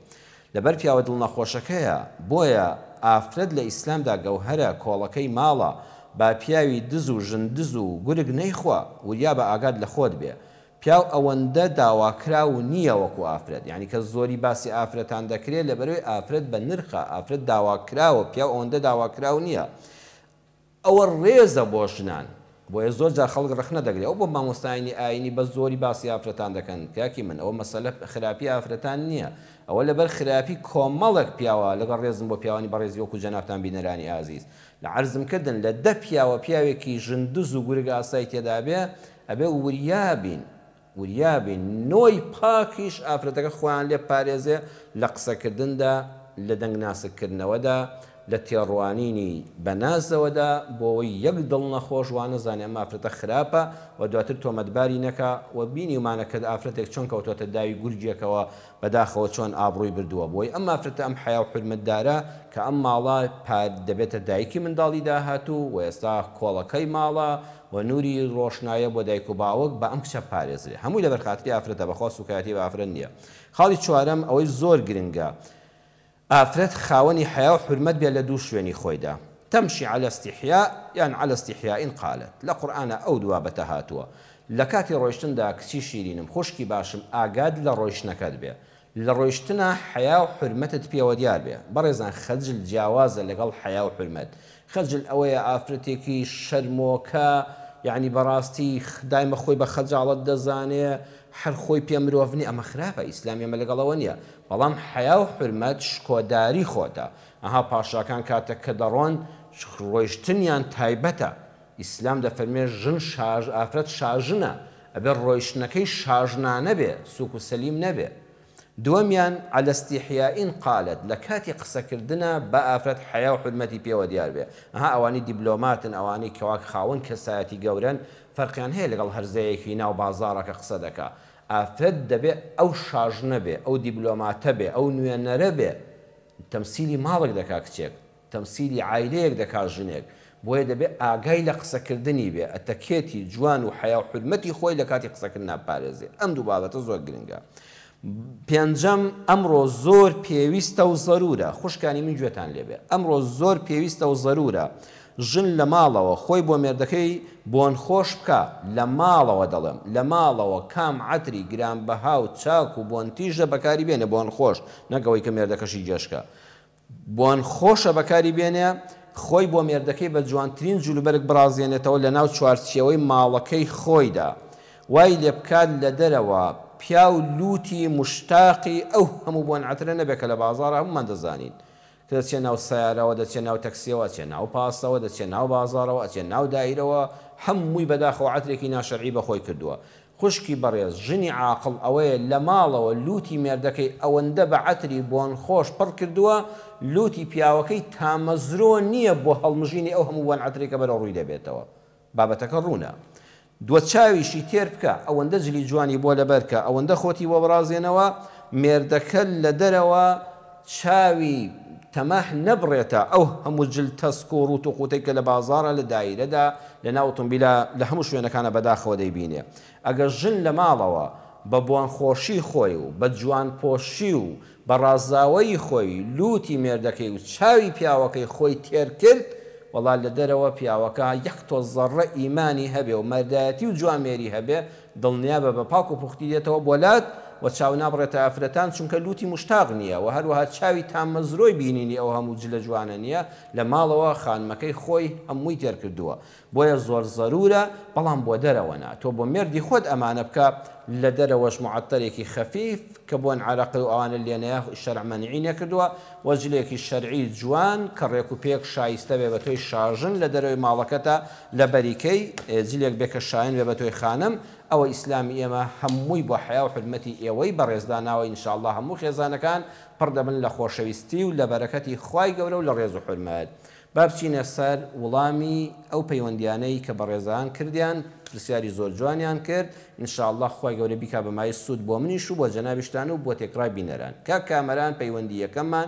[SPEAKER 1] لەبەر پیاوە دڵ نەخۆشەکەیە بۆیە ئافرەت لە ئیسلامدا گەوهەرە کۆڵەکەی ماڵە با پیاوی دز و ژن دز و گورگ نەیخوا وریابە ئاگات لە خۆت بێ پیاو ئەوەندە داواکراو نییە وەکو ئافرەت یانی کە زۆری باسی ئافرەتان دەکرێ لەبەرەوەی ئافرەت بە نرخە ئافرەت داواکراوە پیاو ئەوەندە داواکراو نییە ئەوە ڕێزە بۆ ژنان بۆیە زۆر جار خەڵک ڕەخنە دەگرێ ئەو بۆ مامۆستایانی ئاینی بەس زۆری باسی ئافرەتان دەکەن کاکی من ئەوە مەسەلە خراپی ئافرەتان نیە ئەوە لەبەر خراپی کۆمەڵک پیاوە لەگەڵ ڕێزم بۆ پیاوانی بەڕێزی وەکو جەنابتان بینەرانی ئازیز لە عەرزم کردن لە دە پیاوە پیاوێکی ژن دز و گورگ ئاسای تێدابێ ئەبێ وریا بین وریابی نۆی پاکیش ئافرەتەکە خۆیان لێ بپارێزێ لە قسەکردندا لە دەنگ ناسک کردنەوەدا لە تێڕوانینی بە نازەوەدا بۆوەی یەک دڵ نەخۆش وانەزانێ ئەم ئافرەتە خراپە و دواتر تۆمەتباری نەکا و بینیومانە کە ئافرەتێک چۆن کەوتۆتە داوی گورگێکەوە بەداخەوە چۆن ئابڕوی بردووە بۆی ئەم ئافرەتە ئەم حەیاو حورمەتدارە کە ئەم ماڵە پار دەبێتە دایکی منداڵی داهاتوو و ئێستا کۆڵەکەی ماڵە و نوری ڕۆشنایە بۆ دایک و باوک با ئەم کچە بپارێزرێ هەمووی لەبەر خاتری ئافرەتە بەخوا سوکایەتی بە ئافرەت نیە خاڵی چوارەم ئەوەی زۆر گرنگە ئافرەت خاوەنی حەیا و حورمەت بێ لە دوو شوێنی خۆیدا تمشی علی استحیاء یان علی استحیاء قالت لە قورئانا ئەو دو بابەتە هاتووە لە کاتی ڕۆیشتندا کچی شیرینم خوشکی باشم ئاگات لە ڕۆیشتنەکەت بێ لە ڕۆیشتنا حەیا و حورمەتت پێوە دیار بێ. بەڕێزان خەجل جیاوازە لەگەڵ حەیا و حورمەت. خەجل ئەوەیە ئافرەتێکی شەرمۆکە یانی بەڕاستی دایمە خۆی بە خەجاڵەت دەزانێ هەر خۆی پێ مرۆڤ نیە ئەمە خراپە ئیسلامی ئەمە لەگەڵ ئەوە نیە بەڵام حەیا و حورمەت شکۆداری خۆتە ئەها پاشاکان کاتەک کە دەڕۆن ڕۆیشتنیان تایبەتە ئیسلام دەفەرموێ ژن شاژ ئافرەت شاژنە ئەبێ ڕۆیشتنەکەی شاژنانە بێ سوک و سەلیم نەبێ دووەمیان علی استحیاء قالت لە کاتی قسە کردنا با ئافرەت حەیا و حورمەتی پێوە دیار بێ ئەها ئەوانەی دیبلۆماتن ئەوانەی کەوا خاوەن کەسایەتی گەورەن فەرقیان هەیە لەگەڵ هەرزەیەکی ناو بازاڕە کە قسە دەکا ئافرەت دەبێ ئەو شاژنە بێ ئەو دیبلۆماتە بێ ئەو نوێنەرە بێ تەمسیلی ماڵک دەکا کچێک تەمسیلی عایلەیەک دەکات ژنێک بۆیە دەبێت ئاگای لە قسەکردنی بێ ئەتەکێتی جوان و حەیاو حورمەتی خۆی لە کاتی قسەکردنا بپارێزێ ئەم دوو بابەتە زۆر گرنگە پێنجەم ئەمڕۆ زۆر پێویستە و زەرورە خوشکانی من گوێتان لێبێ ئەمڕۆ زۆر پێویستە و زەرورە ژن لە ماڵەوە خۆی بۆ مێردەکەی بۆن خۆش بکا لە ماڵەوە دەڵێم لە ماڵەوە کام عەتری گرانبەها و چاک و بۆن تیژە بەکاری بێنێ بۆن خۆش نەک ئەوەی کە مێردەکەشی گێژ کا بۆن خۆشە بەکاری بێنێ خۆی بۆ مێردەکەی بە جوانترین جلوبەرگ بڕازێنێتەوە لەناو چوارچێوەی ماڵەکەی خۆیدا وای لێ بکات لە دەرەوە پیاو لووتی موشتاقی ئەو هەموو بۆن عەترە نەبێ کە لە بازاڕە هەموومان دەزانین کە دەچێ ناو سەیارەوە دەچێ ناو تەکسیەوە ئەچێ ناو پاسەوە دەچێ ناو بازاڕەوە ئەچێ ناو دایرەوە هەمووی بەداخەوە عەترێکی ناشەرعی بەخۆی کردووە خوشکی بەڕێز ژنی عاقڵ ئەوەیە لە ماڵەوە لووتی مێردەکەی ئەوەندە بە عەتری بۆنخۆش پڕ کردووە لووتی پیاوەکەی تامەزرۆ نییە بۆ هەڵمژینی ئەو هەموو بۆن عەترەی کە بەرەو ڕووی دەبێتەوە بابەتەکە ڕوونە دوو چاویشی تێر بکە ئەوەندە جلی جوانی بۆ لەبەر کە ئەوەندە خۆتی بۆ بڕازێنەوە مێردەکە لە دەرەوە چاوی تەماح نەبڕێتە ئەو هەموو جل تەسک و ڕووت و قووتەی کە لە بازاڕە، لە دایرەدا، لە ناو ئۆتۆمبیلە، لە هەموو شوێنەکانا بەداخەوە دەیبینێ. ئەگەر ژن لە ماڵەوە بە بۆنخۆشی خۆی و بە جوانپۆشی و بە ڕازاوەیی خۆی لووتی مێردەکەی و چاوی پیاوەکەی خۆی تێر کرد، وەڵا لە دەرەوە پیاوەکە یەک تۆز زەڕڕە ئیمانی هەبێ و مەردایەتی و جوامێری هەبێ، دڵنیابە بە پاک و پوختی دێتەوە بۆ لات و چاو نابڕێتە ئافرەتان چونکە لوتی مشتاق نیە و هەروەها چاوی تامەزرۆی بینینی ئەو هەموو جلە جوانە نیە لە ماڵەوە خانمەکەی خۆی هەمووی تێر کردووە بۆیە زۆر زەرورە بەڵام بۆ دەرەوە نا تۆ بۆ مێردی خۆت ئەمانە بکە لە دەرەوەش معەتەرێکی خەفیف کە بۆن عەرەقی و ئەوانە لێ نەیە شەرع مەنعی نەکردووە و جلێکی شەرعی جوان کە ڕێک و پێک شایستە بێ بە تۆی شاژن لە دەرەوەی ماڵەکەتا لە بەری کەی جلێک بێ کە شایەن بێ بە تۆی خانم، ئەوە ئیسلامی ئێمە هەمووی بۆ حەیا و حورمەتی ئێوەی بەڕێز داناوە ان شاء اللە هەموو خێزانەکان پڕ دەبن لە خۆشەویستی و لە بەرەکەتی خوای گەورە و لە ڕێز و حورمەت با بچینە سەر وڵامی ئەو پەیوەندیانەی کە بەڕێزان کردیان پرسیاری زۆر جوانیان کرد ان شاء اللە خوای گەورە بیکا بە مایەی سوود بۆ منیش و بۆ جەنابیشتان و بۆ تێکڕای بینەران کاک کامەران پەیوەندی یەکەممان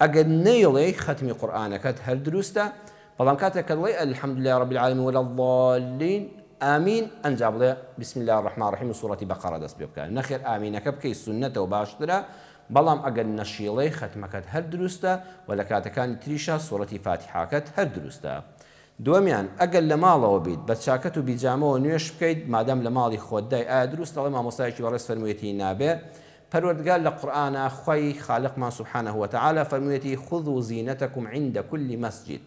[SPEAKER 1] ئەگەر نەیڵێی خەتمی قورئانەکەت هەر دروستە، بەڵام کاتێک کە دڵێی الحمدللە رب العالمین ولا الضالین آمین ئەنجا بڵێ بسم اللە الرحمن الرحیم و سورەتی بقرە دەست پێ بکە نەخێر ئامینەکە بکەی سونەتە و باشترە بەڵام ئەگەر نەشیڵێی خەتمەکەت هەر دروستە و لە کاتەکانی تریشا سورەتی فاتیحاکەت هەر دروستە دووەمیان ئەگەر لە ماڵەوە بیت بە چاکەت و بیجامەوە نوێژ بکەیت مادام لە ماڵی خۆتدای ئایا دروستە ئەڵێ مامۆستایەکی بەڕێز فەرموویەتی نابێ پەروەردگار لە قورئانا خوای خالقمان سبحانە وتعالی فەرموویەتی، خذوا زینتکم عند کل مسجد،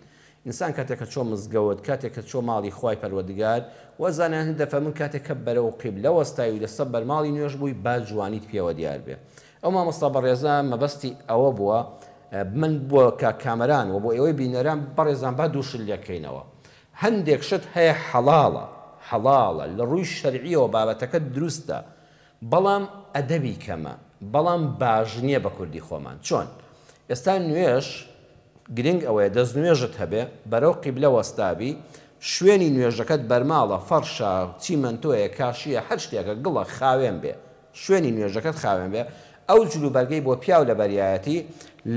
[SPEAKER 1] ئینسان کاتێک کە چۆ مزگەوت، کاتێک کە چۆ ماڵی خوای پەروەردگار، وە زانایان دەفەرموون کاتێک کە بەرەو قیبلە وەستاوی لەسەر بەرماڵی نوێژ بووی با جوانیت پێوە دیار بێ ئەو مامۆستا بەڕێزە مەبەستی ئەوە بووە من بۆ کاک کامەران وە بۆ ئێوەی بینەران بەڕێزان با دوو شت لێکەینەوە هەندێک شت هەیە حەڵاڵە حەڵاڵە لە ڕووی شەرعیەوە بابەتەکە دروستە بەڵام ئەدەبی کەمە بەڵام باش نیە بە کوردی خۆمان چۆن ئێستا نوێژ گرنگ ئەوەیە دەست نوێژت هەبێ بەرەو قیبلە وەستابی شوێنی نوێژەکەت بەرماڵە فەڕشە چیمەنتۆیە کاشیە هەر شتێکە گڵە خاوێن بێ شوێنی نوێژەکەت خاوێن بێ ئەو جل و بەرگەی بۆ پیاو لە بەریایەتی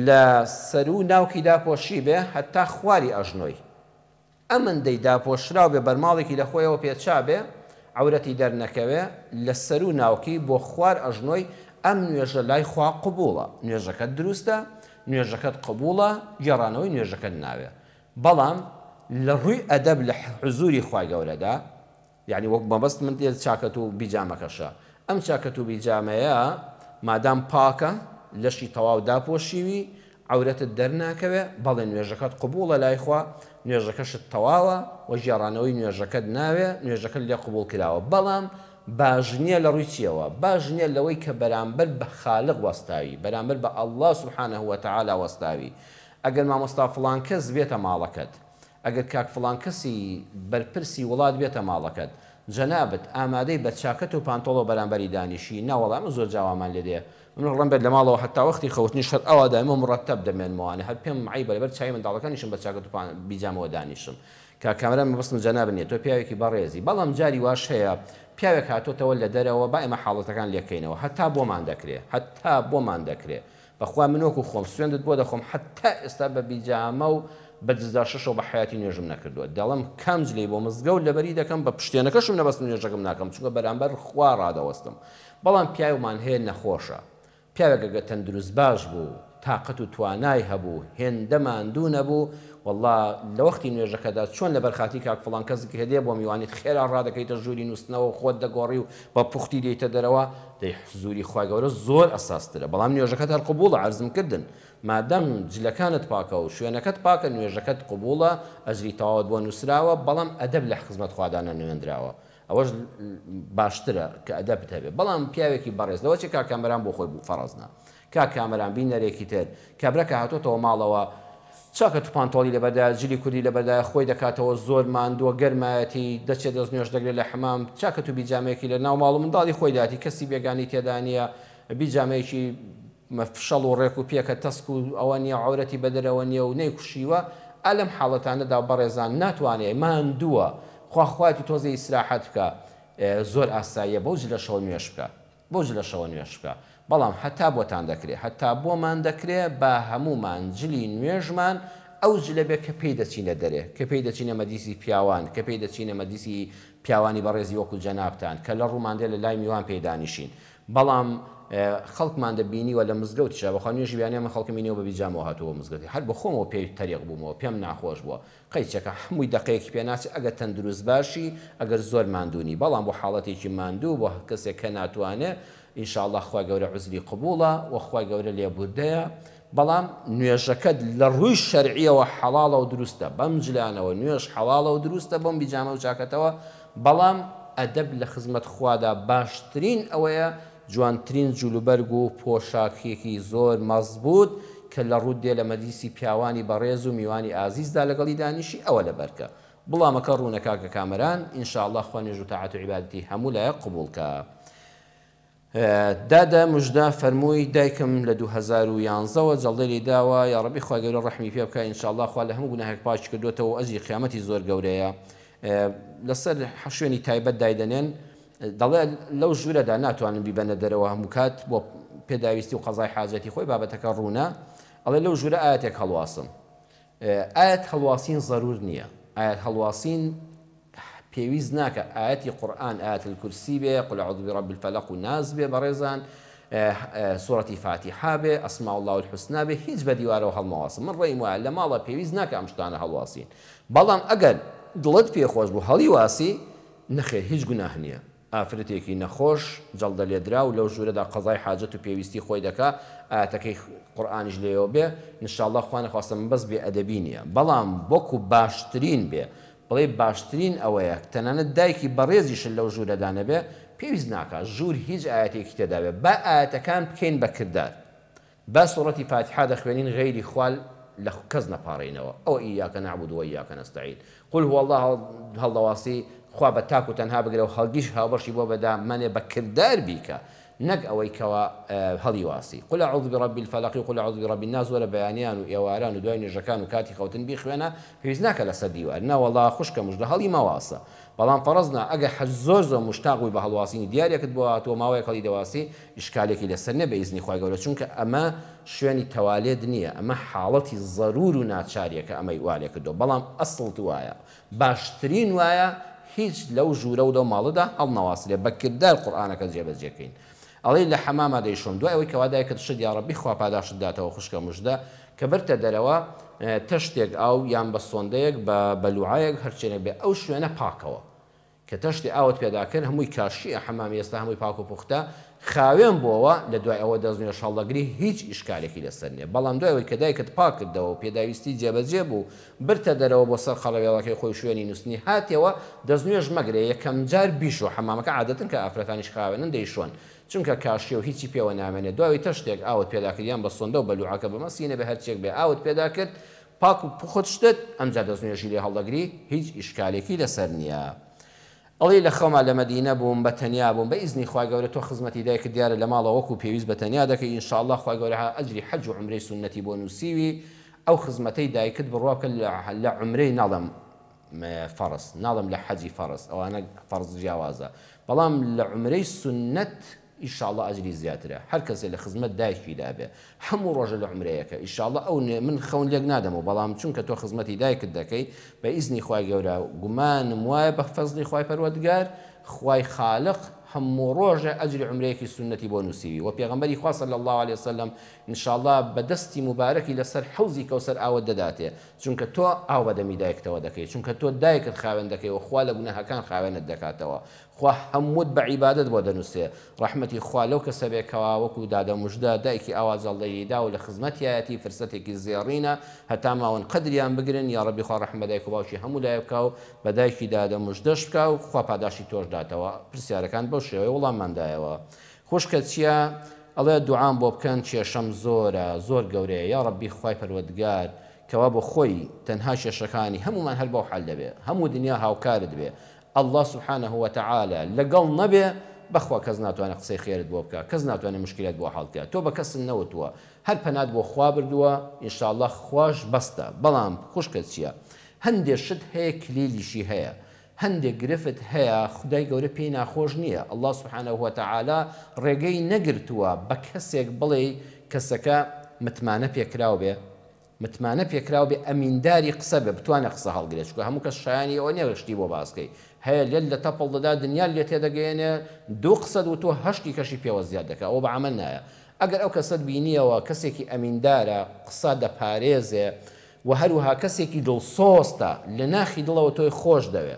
[SPEAKER 1] لە سەرو ناوکی داپۆشی بێ هەتا خواری ئەژنۆی ئەمندەی داپۆشراو بێ بەرماڵێکی لە خۆیەوە پێچا بێ عەورەتی دەر نەکەوێ لە سەروو ناوکی بۆ خوار ئەژنۆی ئەم نوێژە لای خوا قبووڵە نوێژەکەت دروستە نوێژەکەت قبووڵە گێڕانەوەی نوێژەکەت ناوێ بەڵام لە ڕووی ئەدەب لە حزووری خوای گەورەدا یانی وەک مەبەست من دێت چاکەت و بیجامەکەشە ئەم چاکەت و بیجامەیە مادام پاکە لەشی تەواو داپۆشیوی عەورەتت دەرناکەوێ بەڵێ نوێژەکەت قبوڵە لای خوا نوێژەکەشت تەواوە وە گێڕانەوەی نوێژەکەت ناوێ نوێژەکەت لێ قبوڵ کراوە بەڵام باش نیە لە ڕووی چیەوە باش نیە لەوەی کە بەرامبەر بە خالق وەستاوی بەرامبەر بە اللە سبحانە وتعالی وەستاوی ئەگەر مامۆستا فڵان کەس بێتە ماڵەکەت ئەگەر کاک فڵان کەسی بەرپرسی وڵات بێتە ماڵەکەت جەنابت ئامادەی بە چاکەت و پانتۆڵەوە بەرامبەری دانیشی؟ نا وەڵا ئەمە زۆر جاوامان لێ دێ. من ڕۆڵەم بێت لە ماڵەوە هەتا وەختی خەوتنیش هەر ئەوا دایم و موڕەتەب دەمێنمەوانە هەر پێم عەیبە لەبەر چاوی منداڵەکانیشم بە چاکەت و بیجامەوە دانیشم. کاک کامەران مەبەستم جەنابت نیە تۆ پیاوێکی بەڕێزی بەڵام جاری واش هەیە پیاوێک هاتۆتەوە لە دەرەوە با ئێمە حاڵەتەکان لێکەینەوە هەتا بۆمان دەکرێ هەتا بۆمان دەکرێ بەخوا من وەکو خۆم سوێندت بۆ دەخۆم حەتا ئێستا بە بیجامە و بە دزدار شەشەوە بە حەیاتی نوێژم نەکردووە دەڵێم کام جلەی بۆ مزگەوت لەبەری دەکەم بە پشتێنەکەشم نەبەستم نوێژەکم ناکەم چونکە بەرامبەر خوا ڕادەوەستم بەڵام پیاومان هەیە نەخۆشە پیاوێک ئەگەر تەندروست باش بوو تاقەت و توانای هەبوو هێندە ماندوو نەبوو وەڵا لەوەختی نوێژەکەدا چۆن لەبەر خاتری کاک فڵان کەس گهدێ بۆ میوانیت خێرا ڕادەکەیتە ژووری نوستنەوە و خۆت دەگۆڕی و بە پوختی دێیتە دەرەوە دەی حزوری خوا گەورە زۆر ئەساس ترە بەڵام نوێژەکەت هەر قبوڵە عەرزم کردن مادام جلەکانت پاکە و شوێنەکەت پاکە نوێژەکەت قبوڵە ئەجری تەواوت بۆ نوسراوە بەڵام ئەدەب لە حخزمەت خوادا نەنوێنراوە ئەوەش باشترە کە ئەدەبت هەبێ بەڵام پیاوێکی بەڕێز لەوەچێ کاک کامەران بۆ خۆی بوو فەڕەزنا کاک کامەران بینەرێکی تر. کابرا کە هاتۆتەوە ماڵەوە چاکە تو پانتۆڵی لەبەردایە جلی کوردی لەبەردایە خۆی دەکاتەوە زۆر ماندوە گەرمایەتی دەچێ دەست نوێژ دەگرێ لە حەمام چاکە تو بیجامەیەکی لە ناو ماڵو منداڵی خۆی داتی کەسی بێگانی تێدا نیە بیجامەیەکی فشەڵ و ڕێک و پێکە تەسک و ئەوە نیە عەورەتی بەدەرەوە نیە و نەیکوشیوە ئا لەم حاڵەتانەدا بەڕێزان ناتوانێ ماندوە خواخوایەتی تۆزێ ئیسراحەت بکا زۆر ئاساییە بەو جلەشەوە نوێژ بکا. بۆج لە شەوە نوێژ بکە بەڵام هەتا بۆتان دەکرێ هەتا بۆمان دەکرێ با هەموومان جلی نوێژمان ئەو جلە بێ کە پێی دەچینە دەرێ کە پێی دەچینە مەجلیسی پیاوان کە پێی دەچینە مەجلیسی پیاوانی بەڕێزی وەکو جەنابتان کە لە ڕوومان دێ لە لای میوان پێی دانیشین بەڵام خەڵکمان دەبینیوە لە مزگەوتیشا بەخوا نوێژی بەیانیان من خەڵکم بینیوە بە بیجامەوە هاتووە بۆ مزگەوتی هەر بە خۆمەوە پێی تەریق بوومەوە پێم ناخۆش بووە قەیچەکە حەمووی دەقەیەکی پێ ناچێت ئەگەر تەندروست باشی ئەگەر زۆر ماندوو نی بەڵام بۆ حاڵەتێکی ماندوو بۆ کەسێک کە ناتوانێ ان شاء اللە خوای گەورە عوزری قبوڵە وە خوای گەورە لێبوردەیە بەڵام نوێژەکەت لە ڕووی شەرعیەوە حەڵاڵە و دروستە بەم جلانەوە نوێژ حەڵاڵە و دروستە بەم بیجامە و چاکەتەوە بەڵام ئەدەب لە خزمەت خوادا باشترین ئەوەیە جوانترین جلوبەرگ و پۆشاکێکی زۆر مەزبووت کە لە ڕووت دێ لە مەجلیسی پیاوانی بەڕێز و میوانی ئازیزدا لەگەڵی دانیشی ئەوە لە بەرکە بڵامەکە ڕوونە کاکە کامەران ان شاء اللە خوا نوێژ و تاعەت و عیبادەتی هەموو لایەک قبوڵ کا. دادە مژدە فەرمووی دایکم لە دوو هەزار و یانزە وە جەڵدەی لی داوە یاڕەبی خوای گەورە ڕەحمی پێ بکا ان شاء اللە خوا لە هەموو گوناهێک پاکی کردۆتەوە و ئەجری قیامەتی زۆر گەورەیە لەسەر شوێنی تایبەت دایدەنێن دەڵێ لەو ژورەدا ناتوانن بیبەنە دەرەوە هەمووکات بۆ پێداویستی و قەزای حاجەتی خۆی بابەتەکە ڕوونە ئەڵێ لەو ژورە ئایەتێک هەڵواسم ئایەت هەڵواسین زەرور نییە ئایەت هەڵواسین پێویست ناکە ئاەتی قورآن ئاەت الکرسی بێ قل عضو رب الفلق و ناز بێ بەڕێزان سوەتی فاتیحا بێ ئەسما الله الحسنا بێ هیچ بە دیوارەوە هەڵمەواسم من ڕێم وایە لە ماڵە پێویست ناکە ئەم شتانە هەڵواسین بەڵام ئەگەر دڵت پێخۆش بوو هەڵی واسی نەخێر هیچ گوناه نیە ئافرەتێکی نەخۆش جەڵدە لێدراو لەو ژورەدا قەزای حاجەت و پێویستی خۆی دەکا ئایەتەکەی قورئانیش لێیەوە بێ انشاللە خوا نەخواستە من بەس بێ ئەدەبی نیە بەڵام وەکو باشترین بێ بڵێی باشترین ئەوەیە تەنانەت دایکی بەڕێزیشت لەو ژورەدا نەبێ پێویست ناکا ژور هیچ ئایەتێکی تێدابێ با ئایەتەکان بکەین بە کردار با سورەتی فاتحە دەخوێنین غەیری خوا لە کەس نەپاڕێینەوە ئەوە ئیاک نعبد و ئیاک نستعین قل هو اللە هەڵدەواسی خوا بە تاک و تەنها بگرە و هەرگیز هاوبەشی بۆ بەدا مەنێ بە کردار بیکە نەک ئەوەی کەوا هەڵیواسی قل اعوذ برب الفلق و قل اعوذ برب الناس وەرە بەیانیان و ئێواران و دوای نوێژەکان و کاتی خەوتن بیخوێنە پێویست ناکە لەسەر دیوار نەوەڵا خوشکە مژدە هەڵی مەواسە بەڵام فەڕز نا ئەگەر حەج زۆر زۆر مشتاق بووی بە هەڵواسینی دیارێکت بۆ هاتووە ماوەیەک هەڵی دەواسی ئیشکالێکی لەسەر نیە بە ئیزنی خوای گەورە چونکە ئەمە شوێنی تەوالێت نیە ئەمە حاڵەتی زەرور و ناچاریە کە ئەمەی والێکردوە بەڵام ئەسڵت وایە باشترین وایە هیچ لەو ژورە و لەو ماڵەدا هەڵنەواسرێ بە کردار قورئانەکە جێبەجێ کەین ئەڵێی لە حەماما دەیشۆم دوای ئەوەی کەوا دایکت شت یاڕەبی خوا پاداشتت داتەوە خوشکە مژدە کە برتە دەرەوە تەشتێک ئاو یان بە سۆندەیەک بە بەلوعەیەک هەرچێنێک بێ ئەو شوێنە پاکەوە کە تەشتی ئاوت پێدا کرد هەمووی کاشییە حەمامی ئێستا هەمووی پاک و پوختە خاوێن بۆوە لە دوای ئەوە دەستنوێژ هەڵدەگری هیچ ئیشکالێکی لەسەر نییە بەڵام دوای ئەوەی کە دایکت پاک کردەوە و پێداویستی جێبەجێ بوو برتە دەرەوە بۆ سەر قەڕەوێڵەکەی خۆی شوێنی نووستنی هاتیەوە دەستنوێژ مەگرە یەکەم جار بیشۆ حەمامەکە عادەتەن کە ئافرەتانیش خاوێنن دەیشۆن چونکە کاشییە و هیچی پێوە نامێنێت دواوەی تەشتێک ئاوت پێدا کرد یان بە سۆندە و بەلوعەکە بمە سینە بێ هەرچیەک بێ ئاوت پێدا کرد پاک و پوخت شتت ئەمجا دەستنوێژی لێ هەڵدەگری هیچ ئیشکالێکی لەسەر نییە. ئەڵێی لە خەوما لە مەدینە بووم بە تەنیا بووم بە ئیزنی خوای گەورە تۆ خزمەتی دایکت دیارە لە ماڵەوە وەکو پێویست بە تەنیا دەکەی ان شاءاللە خوای گەورە هە ئەجری حەج و عومرەی سوننەتی بۆ نووسیوی ئەو خزمەتەی دایکت بڕوا بکە لە لە عومرەی ناڵێم فەڕز ناڵێم لە حەجی فەڕز ئەوانە فەڕز جیاوازە بەڵام لە عومرەی سوننەت ئیشاڵا ئەجری زیاترە هەر کەسێ لە خزمەت دایکی دا بێ حەموو ڕۆژە لە عومرەیەکە ئیشاڵا ئەو نوێ من خەون لێک نادەمەوە بەڵام چونکە تۆ خزمەتی دایکت دەکەی بە ئیزنی خوای گەورە گومانم وایە بە فەزڵی خوای پەروەردگار خوای خالق حەموو ڕۆژێ ئەجری عومرەیەکی سوننەتی بۆ نووسیوی وە پێغەمبەری خوا صلی اللە علیە وسلم انشاڵا بە دەستی موبارەکی لە سەر حەوزی کەوسەر ئاوت دەداتێ چونکە تۆ ئاو بە دەمی دایکتەوە دەکەی چونکە تۆ دایکت خاوێن دەکەی وە خوا لە گوناهەکان خاوێنت دەکاتەوە خوا هەمووت بە عیبادەت بۆ دەنووسێ. ڕەحمەتی خوا لەو کەسە بێ کەوا وەکو دادە مژدە دایکی ئاوا جەڵدەیی دا و لە خزمەتیایەتی فرسەتێکی زێڕینە هەتا ماون قەدریان بگرن یاڕەبی خوا ڕەحم بە دایک و باوکی هەموو لایێ بکا و بە دایکی دادە مژدەش بکا و خوا پاداشتی تۆش داتەوە پرسیارەکان بەو شێوەیە وڵاممان دایەوە خوشکە چیە ئەڵێ دوعام بۆ بکەن کێشەم زۆرە زۆر گەورەیە یاڕەبی خوای پەروەدگار کەوا بۆ خۆی تەنها کێشەکانی هەموومان هەر بەو حال دەبێ هەموو دنیا هاوکارت بێ اللە سبحانە وتعالی لەگەڵ نەبێ بەخوا کەس ناتوانێ قسەی خێرت بۆ بکا کەس ناتوانێ مشکلەت بۆ حەڵ کا تۆ بە کەست نەوتووە هەر پەنات بۆ خوا بردووە انشاللە خواش بەستە بەڵام خوشکە چیە هەندێ شت هەیە کلیلیشی هەیە هەندێ گرفت هەیە خودای گەورە پێی ناخۆش نیە اللە سبحانە وتعالی ڕێگەی نەگرتووە بە کەسێک بڵێی کەسەکە متمانە پێکراو بێ متمانە پێکراو بێ ئەمینداری قسە بێ بتوانێ قسە هەڵگرێ چونکە هەموو کەس شایانی ئەوە نیە شتی بۆ باس کەی هەیە لێت لە تەپڵ دەدا دنیات لێ تێدەگەیەنێ دوو قسەت وتوە هەشت دیکەشی پێوە زیاد دەکا ئەوە بە عەمەل نایە ئەگەر ئەو کەسەت بینیەوە کەسێکی ئەمیندارە قسە دەپارێزێ وە هەروەها کەسێکی دڵسۆزتە لە ناخی دڵەوە تۆی خۆش دەوێ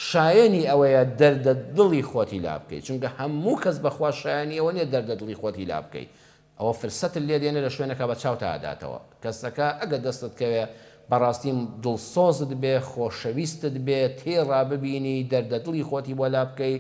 [SPEAKER 1] شایەنی ئەوەیە دەردە دڵی خۆتی لابکەی چونکە هەموو کەس بەخوا شایانی ئەوە نیە دەردە دڵی خۆتی لابکەی ئەوە فرسەتت لێ دێنێ لە شوێنەکە بە چاوتا ئەداتەوە کەسەکە ئەگەر دەستت کەوێ بەڕاستی دڵسۆزت بێ خۆشەویستت بێ تێڕا ببینی دەردە دڵی خۆتی بۆ لا بکەی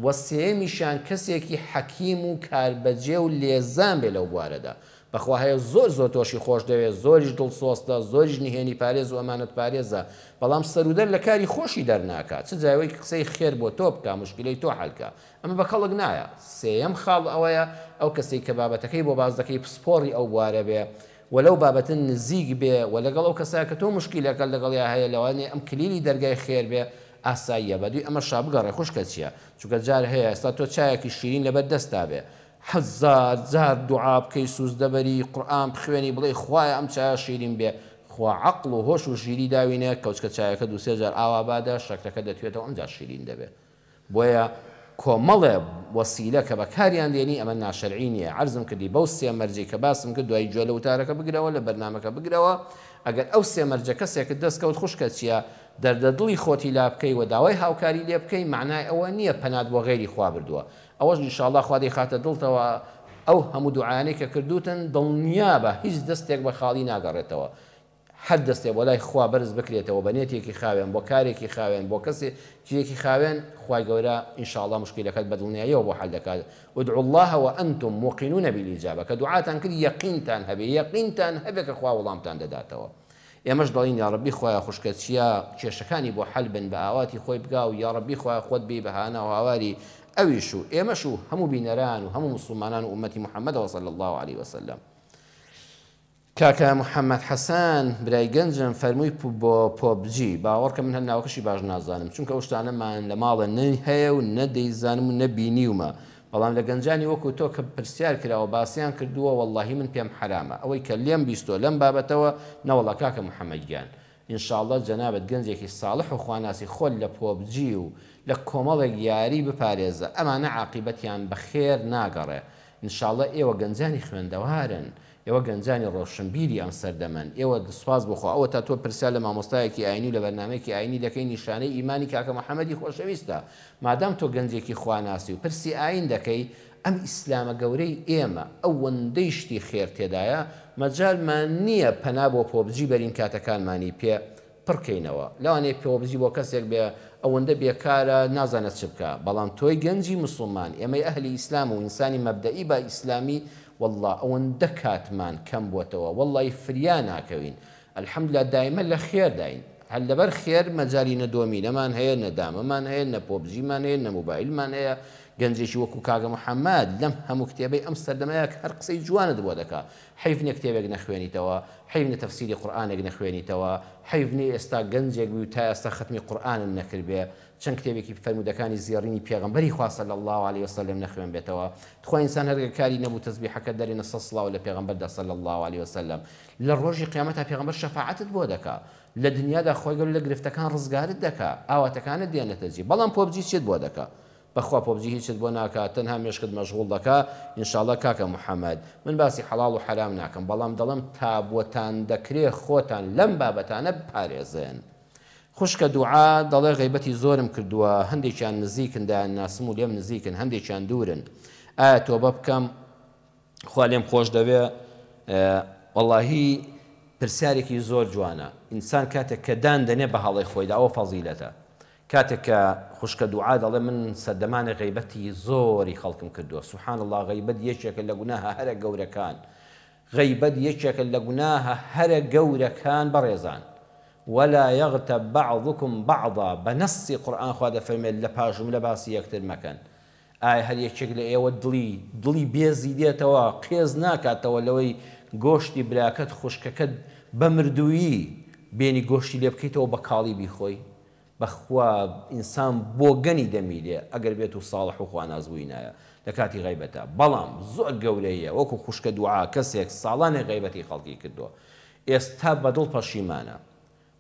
[SPEAKER 1] و سێیەمیشیان کەسێکی حەکیم و کاربەجێ و لێزان بێ لەو بوارەدا بەخوا هەیە زۆر زۆر تۆشی خۆش دەوێ زۆریش دڵسۆزتە زۆریش نهێنی پارێز و ئەمانەت پارێزە بەڵام سەرودەر لە کاری خۆشی دەرناکا چ جای ئەوەی قسەی خێر بۆ تۆ بکا موشکیلەی تۆ حەل کا ئەمە بە کەڵک نایە. سێیەم خاڵ ئەوەیە ئەو کەسەی کە بابەتەکەی بۆ باس دەکەی پسپۆڕی ئەو بوارە بێ و لەو بابەتە نزیک بێ و لەگەڵ ئەو کەسە کە تۆ موشکیلەکەت لەگەڵیا هەیە لەوانەیە ئەم کلیلی دەرگای خێر بێ ئاساییە بەدووی ئەمەشا بگەڕێ خوشکە چیە چونکە جار هەیە ئێستا تۆ چایەکی شیرین لەبەر دەستتا بێ هەزار جار دوعا بکەی سوجدە بەری قورئان بخوێنی بڵێی خوایە ئەم چایە شیرین بێ خوا عەقڵ و هۆش و ژیری داوینە کەوچکە چایەکە دوو سێ جار ئاوا بادە شەکرەکە دەتوێتەوە ئەمجا شیرین دەبێ بۆیە کۆمەڵێ وەسیلە کە بەکاریان دێنی ئەمە ناشەرعی نیە عەرزم کردی بەو سێ مەرجەی کە باسم کرد دوای گوێ لە وتارەکە بگرەوە لە بەرنامەکە بگرەوە ئەگەر ئەو سێ مەرجە کەسێکت دەست کەوت خوشکە چیە دەردە دڵی خۆتی لا بکەی وە داوای هاوکاری لێ بکەی مەعنای ئەوە نیە پەنات بۆ غەیری خوا بردوە ئەوەش ان شاءاللە خوا دەیخاتە دڵتەوە ئەو هەموو دوعایانەی کە کردوتن دڵنیابە هیچ دەستێک بە خاڵی ناگەڕێتەوە هەر دەستێ بۆ لای خوا بەرز بکرێتەوە بە نێتێکی خاوێن بۆ کارێکی خاوێن بۆ کەسێ کێکی خاوێن خوای گەورە ان شاء اللە مشکیلەکەت بە دڵنیاییەوە بۆ حەل دەکات ادعوا اللە وانتم موقنون بالاجابە کە دوعاتان کرد یەقینتان هەبێ یەقینتان هەبێ کە خوا وڵامتان دەداتەوە ئێمەش دەڵێین یاڕەبی خوایە خوشکە چیا کێشەکانی بۆ حەل بن بە ئاواتی خۆی بگا و یاڕەبی خوایە خۆت بێی بە هانا و هاواری ئەویش و ئێمەش و هەموو بینەران و هەموو مسوڵمانان و ئومەتی محەممەدەوە صلی اللە علیه وسلم کاکە محمد حسن برای گەنجم فەرمووی پو بۆ پۆبجی باوەڕکە من هەر ناوەکەشی باش نازانم چونکە ئەو شتانە مان لە ماڵە نە هەیە و نە دەیزانم و نە بینیومە بەڵام لە گەنجانی وەکو تۆ کە پرسیار کراوە باسیان کردووە وەڵاهی من پێم حەرامە ئەوەی کە لێم بیستۆ لەم بابەتەوە نەوەڵا کاکە محمد گیان ان شاءاللە جەنابت گەنجێکی ساڵح و خواناسی خۆت لە پۆبجی و لە کۆمەڵێک یاری بپارێزە ئەمانە عاقیبەتیان بە خێر ناگەڕێ ان شاءاللە ئێوە گەنجانی خوێندەوارن ئێوە گەنجانی ڕۆشنبیری ئەم سەردەمەن، ئێوە سوپاس بۆ خوا ئەوەتا تۆ پرسیار لە مامۆستایەکی ئاینی و لە بەرنامەیەکی ئاینی دەکەی نیشانەی ئیمانی کاکە محمدی خۆشەویستە، مادام تۆ گەنجێکی خواناسی و پرسی ئاین دەکەی، ئەم ئیسلامە گەورەی ئێمە ئەوەندەی شتی خێر تێدایە مەجالمان نیە پەنا بۆ پۆبجی بەرین کاتەکانمانی پێ پڕ کەینەوە لەوانەیە پێوەبزی بۆ کەسێک بێ ئەوەندە بێکارە نازانێت چ بکا بەڵام تۆی گەنجی موسڵمان ئێمەی ئەهلی ئیسلام و ئینسانی مەبدەئی با ئیسلامی واللە ئەوەندە کاتمان کەم بۆتەوە واللەی فریا ناکەوین الحمدللە دایمە لە خێرداین هەر لەبەر خێر مەجالی نە دۆمینەمان هەیە نە دامەمان هەیە نە پۆبجیمان هەیە نە موبایلمان هەیە گەنجێکی وەکو کاکە محمد لەم هەموو کتێبەی ئەم سەردەمە کە هەر قسەی جوانت بۆ دەکا حەیف نیە کتێبێک نەخوێنیتەوە حەیف نیە تەفسیری قورئانێک نەخوێنیتەوە حەیف نیە ئێستا گەنجێک بی و تا ئێستا خەتمی قورئانت نەکردبێ چەند کتێبێکی فەرموودەکانی زێڕینی پێغەمبەری خوا صلی اللە علیە و سلم نەخوێنبێتەوە تخوا ئینسان هەر گەر کاری نەبوو تەسبیحەکەت دەرێنە سەد سڵاو لە پێغەمبەردا صلی اللە علیە و سلم لە ڕۆژی قیامەتا پێغەمبەر شەفاعەتت بۆ دەکا لە دنیادا خوای گەورە لە گرفتەکان ڕزگارت دەکا ئاواتەکانت دێنێتە جێ بەڵام پۆبجی چێت بۆ دەکا بەخوا پۆبجی هیچت بۆ ناکا تەنها مێشکت مەشغوڵ دەکا انشاللە کاکە محمد من باسی حەڵاڵ و حەرام ناکەم بەڵام دەڵێم تابوتان دەکرێ خۆتان لەم بابەتانە بپارێزن خوشکە دوعا دەڵێ غەیبەتی زۆرم کردوە هەندێکیان نزیکن دایانناسم و لێم نزیکن هەندێکیان دورن ئایا تۆبە بکەم خوا لێم خۆش دەوێ وەڵاهی پرسیارێکی زۆر جوانە ئینسان کاتێک کە دان دەنێ بە هەڵەی خۆیدا ئەوە فەزیلەتە کاتێک کە خوشکە دوعا دەڵێ من سەردەمانێ غیبەتی زۆری خەڵکم کردووە سبحان اللە غیبەت یەکێکە لە گوناهە هەرە گەورەکان غیبەت یەکێکە لە گوناهە هەرە گەورەکان بەڕێزان ولا يغتب بعضكم بعضا بە نەسی قورئان خوا دەفەرمێت لە پاش جملە باسی یەکتر مەکەن ئایا هەر یەکێک لە ئێوە دڵی دڵی بێزی دێتەوە، قێز ناکاتەوە لەوەی گۆشتی براکەت، خوشکەکەت، بە مردوویی بێنی گۆشتی لێ بکەیتەوە بە کاڵی بیخۆی؟ بەخوا ئینسان بۆگەنی دەمیرێ ئەگەر بێت و ساڵح و خواناس بووینایە لە کاتی غەیبەتا، بەڵام زۆر گەورەییە وەکو خوشکە دوعا کەسێک ساڵانێک غەیبەتی خەڵکی کردووە ئێستا بە دڵ پەشیمانە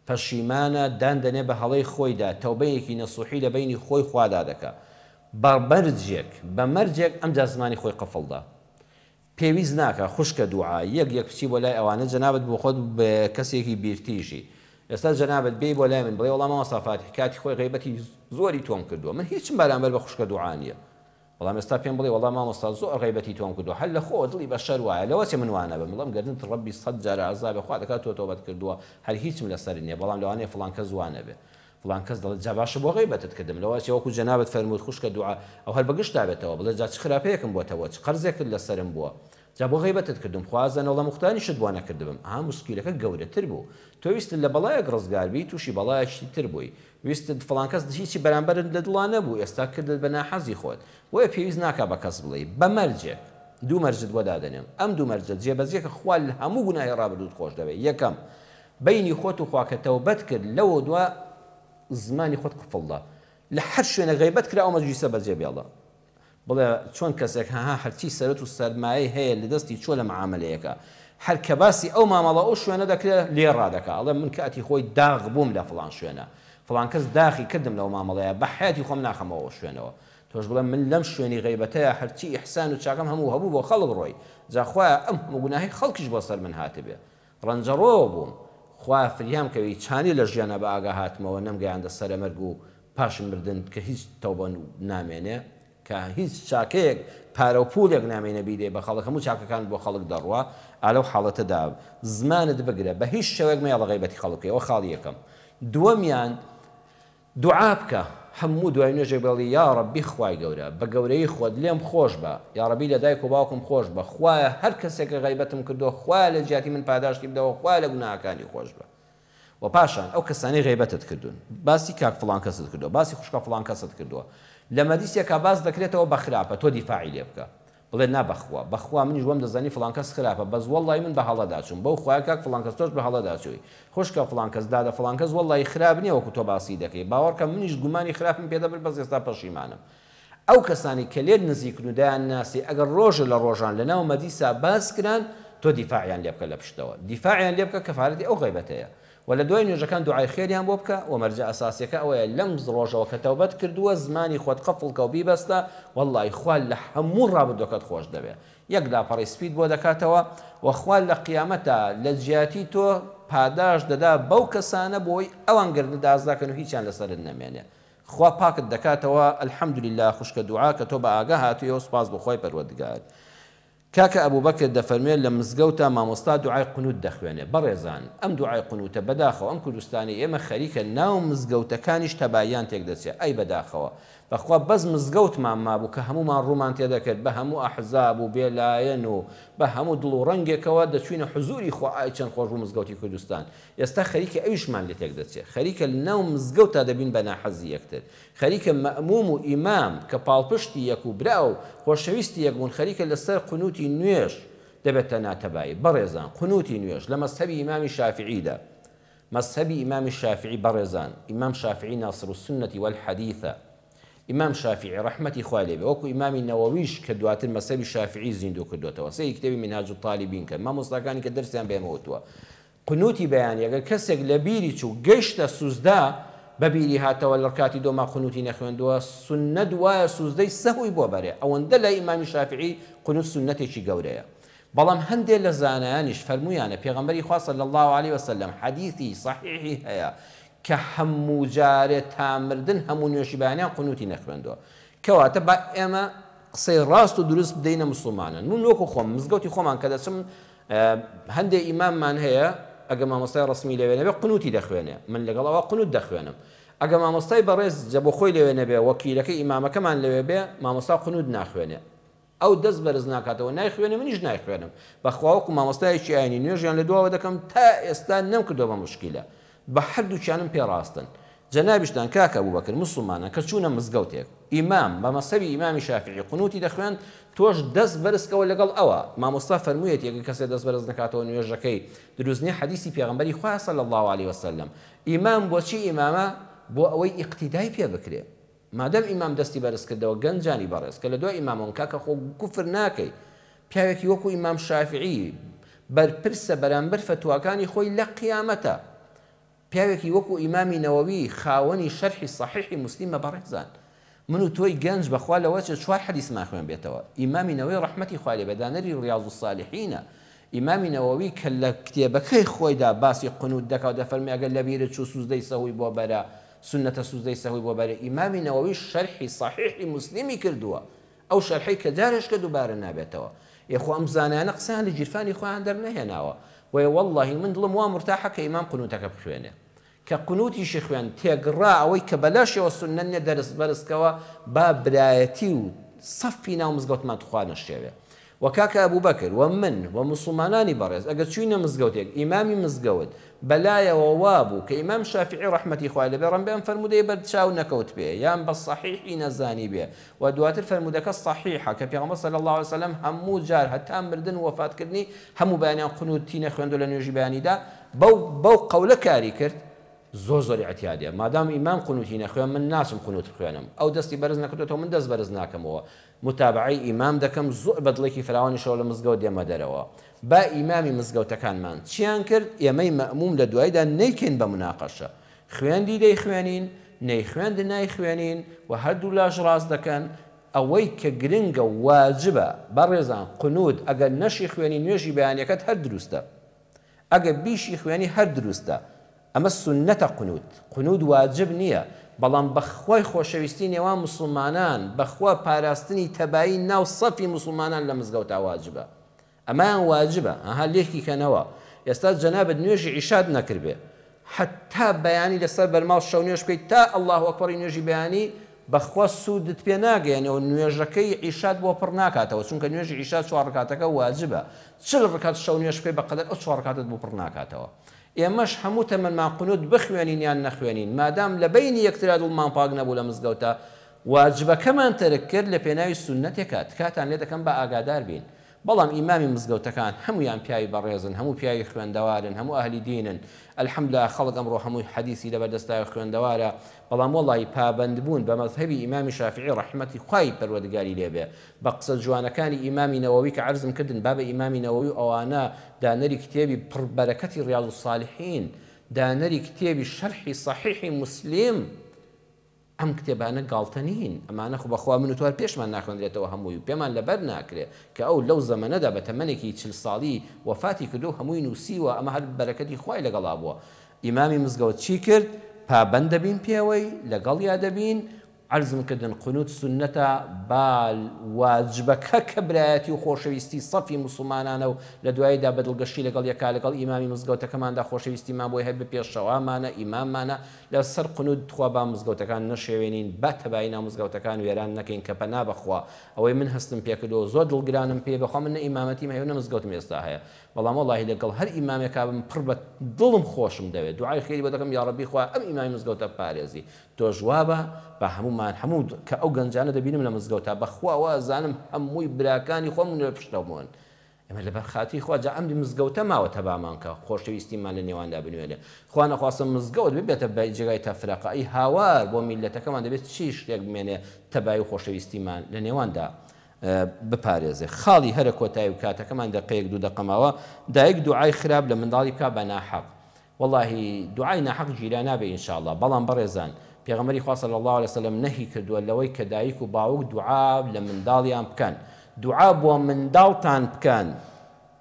[SPEAKER 1] پەشیمانە دان دەنێ بە هەڵەی خۆیدا تەوبەیەکی نەسوحی لە بەینی خۆی خوادا دەکا بە بەرجێک بە مەرجێک ئەمجا زمانی خۆی قفڵ دا پێویست ناکا خوشکە دوعا یەک یەک بچی بۆ لای ئەوانە جەنابت بۆ خۆت بە کەسێکی بیرتیژی ئێستا جەنابت بێی بۆ لای من بڵێ وەڵا مامۆستا فاتیح کاتی خۆی غەیبەتی زۆری تۆم کردووە من هیچم بەرامبەر بە خوشکە دوعا نیە بەڵام ئێستا پێم بڵێ وەڵا مامۆستا زۆر غەیبەتی تۆم کردوە هەر لە خۆوە دڵی بەشەر وایە لەوە چێ من وانەبم بڵێم گەردنت ڕەبی سەد جار عەزابێ خوا دەکات تۆ تۆبەت کردوە هەر هیچم لەسەر نیە بەڵام لەوانەیە فڵان کەس وانەبێ فڵان کەس دەڵێت جا باشە بۆ غەیبەتت کردم لەوە چێ وەکو جەنابت فەرمووت خوشکە دوعا ئەو هەر بەگژتا بێتەوە بڵێ جا چ خراپەیەکم بۆتەوە چ قەرزێکت لەسەرم بووە جا بۆ غەیبەتت کردم خوا ئەزانێ وەڵا موختانیشت بۆ نەکردبم ئەها موسکیلەکە گەورەتر بوو تۆ ویستت لە بەڵایەک ڕزگار بی توشی بەڵایەکی تر بووی ویستت فڵان کەس هیچی بەرامبەرت لە دڵا نەبوو ئێستا کردت بە ناحەزی خۆت بۆیە پێویست ناکا بە کەس بڵێی بە مەرجێک دوو مەرجت بۆ دادەنێم ئەم دوو مەرجە جێبەجێ کە خوا لە هەموو گوناهی ڕابردووت خۆش دەوێ یەکەم بەینی خۆت و خوا کە تەوبەت کرد لەوە دوا زمانی خۆت قفڵدە لە هەر شوێنێک غەیبەت کرا ئەو مەجلیسە بەجێ بێڵە بڵێ چۆن کەسێک هەها هەرچی سەرەت و سەرمایەی هەیە لەدەستی چۆ لە معامەلەیەکە هەر کە باسی ئەو مامەڵە و شوێنە دەکرێ لێ ڕادەکا ئەڵێ من کاتی خۆی داغ بووم لە فڵان شوێنە فڵان کەس داخی کردم لەو مامەڵەیە بە حەیاتی خۆم ناخەمەوە ئەو شوێنەوە تۆش بڵێ من لەم شوێنی غەیبەتەیا هەرچی ئیحسان و چاکەم هەموو هەبوو بۆ خەڵک ڕۆی جا خوایە ئەم هەموو گوناهەی خەڵکیش بۆ سەر من هاتبێ ڕەنجەڕۆوە بووم خوایە فریام کەوی چانی لە ژیانا بە ئاگا هاتمەوە نەم گەیاندە سەرە مەرگ و پاش مردن کە هیچ تەوبە نامێنێ کە هیچ چاکەیەک پارەو پوولێک نامێنێ بیدەی بە خەڵک هەموو چاکەکانت بۆ خەڵک دەڕوا ئالەو حاڵەتە دا زمانت بگرە بە هیچ شێوەیەک مەیەڵە غەیبەتی خەڵک بکەی ئەوە خاڵی یەکەم دووەمیان دوعا بکە هەموو دوای نوێژێک بڵێ یاڕەبی خوای گەورە بە گەورەیی خۆت لێم خۆش بە یاڕەبی لە دایک و باوکم خۆش بە خوایە هەر کەسێک غەیبەتم کردوە خوایە لە جیاتی من پاداشتی بدەوە خوایە لە گوناهەکانی خۆش بە وە پاشان ئەو کەسانەی غەیبەتت کردون باسی کاک فڵان کەست کردوە باسی خوشکە فڵان کەست کردوە لە مەجلیسێکا باس دەکرێتەوە بە خراپە تۆ دیفاعی لێ بکە بڵێت نا بەخوا بەخوا منیش وام دەزانی فڵان کەس خراپە بەس وەڵڵایی من بە هەڵەدا چووم بەو خوایە کاک فڵان کەس تۆش بە هەڵەدا چووی خوشکە فڵان کەس دادە فڵان کەس وەڵڵایی خراپ نیە وەکو تۆ باسی دەکەی باوەڕکە منیش گومانی خراپم پێ دەبرد بەس ئێستا پەشیمانم ئەو کەسانەی کە لێت نزیکن و دەیان ناسی ئەگەر ڕۆژێ لە ڕۆژان لە ناو مەدیسا باس کران تۆ دیفاعیان لێ بکە لە پشتەوە دیفاعیان لێ بکە کەفارەتی ئەو غەیبەتەیە وە لە دوای نوێژەکان دوعای خێریان بۆ بکە، وە مەرجە ئەساسیەکە ئەوەیە لەم ڕۆژەوە کە تەوبەت کردووە زمانی خۆت قفڵ کەو بیبەستە وەڵڵای خوا لە هەموو ڕابردووەکەت خۆش دەوێ یەک لاپەڕەی سپیت بۆ دەکاتەوە وە خوا لە قیامەتا لە جیاتی تۆ پاداشت دەدا بەو کەسانە بۆی ئەوان گەردنت ئازا کەن و هیچیان لەسەرت نەمێنێ خوا پاکت دەکاتەوە الحمدللە خوشکە دوعا کە تۆ بە ئاگا هاتوویەوە سوپاس بۆ خوای پەروەردگار کاکە ئەبوبەکر دەفەرموێ لە مزگەوتا مامۆستا دوعای قنوت دەخوێنێ بەڕێزان ئەم دوعای قنوتە بەداخەوە ئەم کوردستانەی ئێمە خەریکە ناو مزگەوتەکانیش تەباییان تێک دەچێ ئای بەداخەوە بەخوا بەس مزگەوتمان مابوو کە هەموومان ڕوومان تێ دەکرد بە هەموو ئەحزاب و بێ لایەن و بە هەموو دڵ و ڕەنگێکەوە دەچوینە حزوری خوا ئای چەند خۆش بوو مزگەوتی کوردستان ئێستا خەریکە ئەویشمان لێ تێک دەچێ خەریکە لەناو مزگەوتا دەبین بە ناحەزی یەکتر خەریکە مەئموم و ئیمام کە پاڵپشتی یەک و برا و خۆشەویستی یەک بوون خەریکە لە سەر قنوتی نوێژ دەبێتە ناتەبایی بەڕێزان قنوتی نوێژ لە مەزهەبی ئیمامی شافیعی دا مەزهەبی ئیمامی شافیعی بەڕێزان ئیمام شافیعی ناصرالسنەتی والحدیثە ئیمام شافیعی ڕەحمەتی خوای لێ بێ وەکو ئیمامی نەوەویش کە دواتر مەزهەبی شافیعی زیندوو کردۆتەوە سەیری کتێبی منهاج الطالبین کەن مامۆستاکانی کە دەرسیان بە ئێمە وتووە قنوتی بەیانی، ئەگەر کەسێک لەبیری چوو گەیشتە سوزدە بەبیری هاتەوە لەڕکاتی دۆما قنوتی نەخوێندووە سوننەت وایە سوزدەی سەهوی بۆ بەرێ ئەوەندە لای ئیمامی شافعی قنوت سوننەتێکی گەورەیە بەڵام هەندێ لەزانایانیش فەرمویانە پێغەمبەری خوا صلی اللە علیە وسلم حەدیثی صحیحی هەیە کە هەموو جارێ تا مردن هەموو نوێژی بەیانیان قنوتی نەخوێندووە کەواتە با ئێمە قسەی ڕاست و دروست بدەینە موسڵمانان من وەکو خۆم مزگەوتی خۆمان کە دەچم هەندێ ئیماممان هەیە ئەگە مامۆستای ڕەسمی لەوێ نەبێ قنوتی دەخوێنێ من لەگەڵ ئەوە قنوت دەخوێنم ئەگە مامۆستای بەڕێز جە بۆخۆی لەوێ نەبێ وەکیلەکەی ئیمامەکەمان لەوێ بێ مامۆستا قنوت ناخوێنێ ئەو دەست بەرز ناکاتەوە نایخوێنێ منیش نایخوێنم بەخوا وەکو مامۆستایەکی ئاینی نوێژیان لەدواوە دەکەم تا ئێستا نەمکردوە بە موشکیلە بە هەردووکیانم پێ ڕاستن. جەنابیشتان کاک ئەبوبەکر موسڵمانە کە چوونە مزگەوتێک ئیمام بە مەزهەبی ئیمامی شافیعی قنوتی دەخوێند تۆش دەست بەرزکەوە لەگەڵ ئەوا مامۆستا فەرموویەتی ئەگەر کەسێ دەست بەرز نەکاتەوە نوێژەکەی دروست نیە حەدیسی پێغەمبەری خوایە صلی اللە علیە وسلم ئیمام بۆچی ئیمامە بۆ ئەوەی ئیقتیدای پێ بکرێ. مادەم ئیمام دەستی بەرز کردەوە گەنجانی بەڕێز کە لە دوای ئیمامەوەن کاکە خۆ کوفر ناکەی پیاوێکی وەکو ئیمام شافعی بەرپرسە بەرامبەر فتواکانی خۆی لە قیامەتا پیاوێکی وەکو ئیمامی نەوەوی خاوەنی شەرحی صحیحی مسلیمە بەڕێزان من و تۆی گەنج بەخوا لەوە چێ چوار حەدیسمان خوێن بێتەوە ئیمامی نەوەی ڕەحمەتی خوای لێ بێ دانەری ڕیاض الصالحینە ئیمامی نەوەوی کە لە کتێبەکەی خۆیدا باسی قنوت دەکا و دەفەرمی ئەگەر لەبیرت چوو سوزدەی سەهوی بۆ بەرە سوننەتە سوزدەی سەهوی بۆ بەرێ ئیمامی نەوەویش شەرحی سەحیحی موسلیمی کردووە ئەو شەرحەی کە جارێشکە دووبارە نابێتەوە ئێ خۆ ئەم زانایانە قسەیان لە گیرفانی خۆیان دەرنەهێناوە بۆیە وەڵڵاهی من دڵم وا مورتاحە کە ئیمام قنوتەکە بخوێنێ کە قنوتیشی خوێند تێگڕا ئەوەی کە بەلاشیەوە سوننە نیە دەرست بەرست کەوە با برایەتی و سەفی ناو مزگەوتمان توخوا نەشێوێ وە کاکە ئەبوبەکر وە من وە موسڵمانانی بەڕێز ئەگەر چوینە مزگەوتێک ئیمامی مزگەوت بەلایەوە وابوو کە ئیمام شافیعی ڕەحمەتی خوای لێبێ ڕەنبێ ئەم فەرموودەی بەر چاو نەکەوتبێ یان بە سەحیحی نەزانیبێ وە دواتر فەرموودەکە سەحیحە کە پێغەمبەر صلی اللە علیە وسلم هەموو جار هەتا مردن و وەفات کردنی هەموو بەیانیان قنوت ی نەخوێندوە لە نوێژی بەیانیدا بەو بەو قەولە کاری کرد زۆر زۆر ئیعتیادیە مادام ئیمام قنوتی نەخوێن من ناچم قنوت بخوێنم ئەو دەستی بەرز نەکردۆتەوە من دەست بەرز ناکەمەوە متابەعەی ئیمام دەکەم زوئ بە دڵێکی فراوانی شەو لە مزگەوت دێمە دەرەوە با ئیمامی مزگەوتەکانمان چیان کرد ئێمەی مەئموم لە دوایدا نەیکەین بە مناقەشە خوێندی دەیخوێنین نەیخوێند نایخوێنین و هەردوولاش ڕاست دەکەن ئەوەی کە گرنگە و واجبە بەڕێزان قنوت ئەگەر نەشی خوێنی نوێژی بەیانیەکەت هەر دروستە ئەگەر بیشی خوێنی هەر دروستە. ئەمە سونەتە قنوت. قنوت واجب نیە. بەڵام بەخوای خۆشەویستی نێوان موسڵمانان بەخوا پاراستنی تەبایی ناو سەفی موسڵمانان لە مزگەوتا واجبە. ئەمەیان واجبە. ئەها لێکی کەنەوە. ئێستا جەنابت نوێژی عیشات نەکردبێ. حەتتا بەیانی لەسەر بەرماڵ شەونوێژ بکەیت تا اللە اکبری نوێژی بەیانی بەخوا سوودت پێ ناگەیەنێتەوە نوێژەکەی عیشات بۆ پڕ ناکاتەوە چونکە نوێژی عیشا چوار ڕکاتەکە واجبە چل ڕکات شەونوێژ بکەیت بەقەدەر ئەو چوار ڕکاتەت بۆ پڕ ناکاتەوە ئێمەش هەموو تەمەنمان قنوت بخوێنین یان نەخوێنین مادام لەبەینی یەکترا دڵمان پاک نەبوو لە مزگەوتە واجبەکەمان تەرک کرد لەپێناوی سوننەتێکا تکاتان لێ دەکەم بە ئاگادار بین بەڵام ئیمامی مزگەوتەکان هەموویان پیاوی بەڕێزن هەموو پیاوی خوێندەوارن هەموو ئەهلی دینن الحمدللە خەڵک ئەمڕۆ هەمووی حەدیسی لەبەر دەست پیاوی خوێندەوارە بەڵام وەڵایی پابەندبوون بە مەزهەبی ئیمامی شافیعی ڕەحمەتی خوای پەروەردگاری لێ بێ بە قسە جوانەکانی ئیمامی نەوەوی کە عەرزم کردن بابە ئیمامی نەوەوی و ئەوانە دانەری کتێبی پڕ بەرەکەتی ڕیاض الصالحین دانەری کتێبی شەرحی صحیحی مسلم ئەم کتێبانە گاڵتە نین، ئەمانە خۆ بەخوا من و تۆ هەر پێشمان ناخوێندرێتەوە هەمووی و پێمان لەبەر ناکرێ کە ئەو لەو زەمەنەدا بە تەمەنێکی چل ساڵی وەفاتی کردووە و هەمووی نووسیوە، ئەمە هەر بەرەکەتی خوای لەگەڵا بووە. ئیمامی مزگەوت چی کرد؟ پابەند دەبین پێوەی، لەگەڵیا دەبین، عەرزم کردن قنوت سوننەتە با واجبەکە کە برایەتی و خۆشەویستی سەفی موسڵمانانە و لە دواییدا بە دڵگەشی لەگەڵ یەکا لەگەڵ ئیمامی مزگەوتەکەماندا خۆشەویستیمان بۆی هەبێ پێشەوامانە، ئیماممانە، لە سەر قنوت تخوا با مزگەوتەکان نەشێوێنین با تەبایی ناو مزگەوتەکان وێران نەکەین کە پەنا بە خوا ئەوەی من هەستم پێ کردوە زۆر دڵگرانم پێی بەخوا من نە ئیمامەتیم هەیەو نە مزگەوتم ئێستا هەیە بەڵام وەڵاهی لە گەڵ هەر ئیمامێکا بم پڕ بە دڵم خۆشم دەوێ دوعای خێری بۆ دەکەم یاڕەبی خوایە ئەم ئیمامی مزگەوتە بپارێزی تۆش وابە با هەموومان هەموو کە ئەو گەنجانە دەبینم لە مزگەوتا بەخوا وازانم هەمووی براکانی خۆمن و لە پشتەوەمن ئێمە لەبەر خاتری خوا جا ئەم مزگەوتە ماوە تەبامان کە خۆشەویستیمان لە نێواندا بنوێنێ خوا نەخواستە مزگەوت ببێتە بە جێگای تەفرەقە ئەی هاوار بۆ میللەتەکەمان دەبێت چی شتێک بمێنێ تەبایی و خۆشەویستیمان لە نێواندا بپارێزێ خاڵی هەرە کۆتایی و کاتەکەمان دەقەیەک دوو دەقە ماوە دایک دوعای خراپ لە منداڵی بکا بە ناحەق وەڵاهی دوعای ناحەق گیرا نابێ ان شاءاللە بەڵام بەڕێزان پێغەمبەری خوا صلی اللە علیە وسلم نەهی کردووە لەوەی کە دایک و باوک دوعا لە منداڵیان بکەن دوعا بۆ منداڵتان بکەن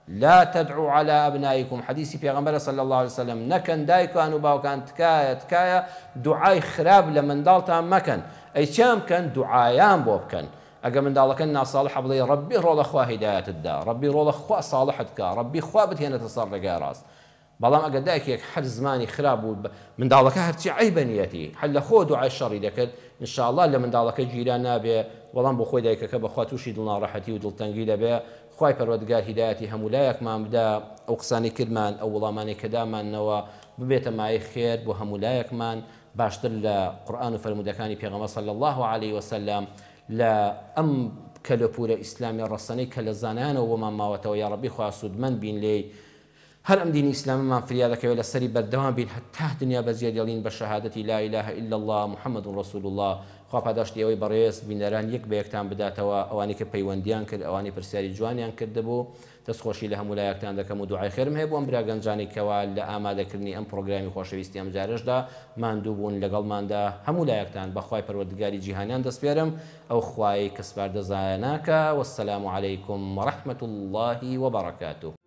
[SPEAKER 1] لا تدعو علی ابنائکم حەدیسی پێغەمبەرە صلی اللە علیە وسلم نەکەن دایکان و باوکان تکایە تکایە دوعای خراپ لە منداڵتان مەکەن ئەی چیان بکەن دوعایان بۆ بکەن ئەگە منداڵەکە ناساڵحە بڵێ ڕەبی ڕۆڵە خوا هیدایەتت دا ڕەبی ڕۆڵە خوا ساڵحت کا ڕەبی خوا بتهێنێتە سەر ڕێگای ڕاست بەڵام ئەگەر دایکێک هەر زمانی خراپ بوو بە منداڵەکە هەرچی عەیبە نیەتی هەر لە خۆوە دوعای شەڕی دەکرد ان شاء اللە لە منداڵەکە گیرا نابێ بەڵام بۆ خۆی دایکەکە بەخوا توشی دڵناڕەحەتی و دڵتەنگی دەبێ خوای پەروەردگار هیدایەتی هەموولایەکمان بدا ئەو قسانەی کردمان ئەو وڵامانەی کە داماننەوە ببێتە مایەی خێر بۆ هەموولایەکمان باشتر لە قورئان و فەرموودەکانی پێغەمبەر صلی اللە علیە وسلم لە ئەم کەلوپورە ئیسلامیە ڕەسەنەی کە لە زانایانەوە بۆمان ماوەتەوە یاڕەبی خوا سوودمەند بین لێی هەر ئەم دینی ئیسلامەمان فریا دەکەوێت لەسەری بەردەوام بین هەتا دنیا بەجێ دێڵین بە شەهادەتی لا الە الا اللە محمد رسول اللە خوا پاداشتی ئەوەی بەڕێز بینەران یەک بەیەکتان بداتەوە ئەوانەی کە پەیوەندیان کرد ئەوانەی پرسیاری جوانیان کردبوو دەست خۆشی لە هەموو لایەکتان دەکەم و دوعای خێرم هەیە بۆ ئەم برا گەنجانەی کەوا لە ئامادەکردنی ئەم پڕۆگرامی خۆشەویستی ئەم جارەشدا ماندوو بوون لەگەڵماندا هەموو لایەکتان بە خوای پەروەردگاری جیهانان دەسپێرم ئەو خوایەی کە سپاردە زایە ناکا والسلام علیکم ورحمە اللە وبرکاته.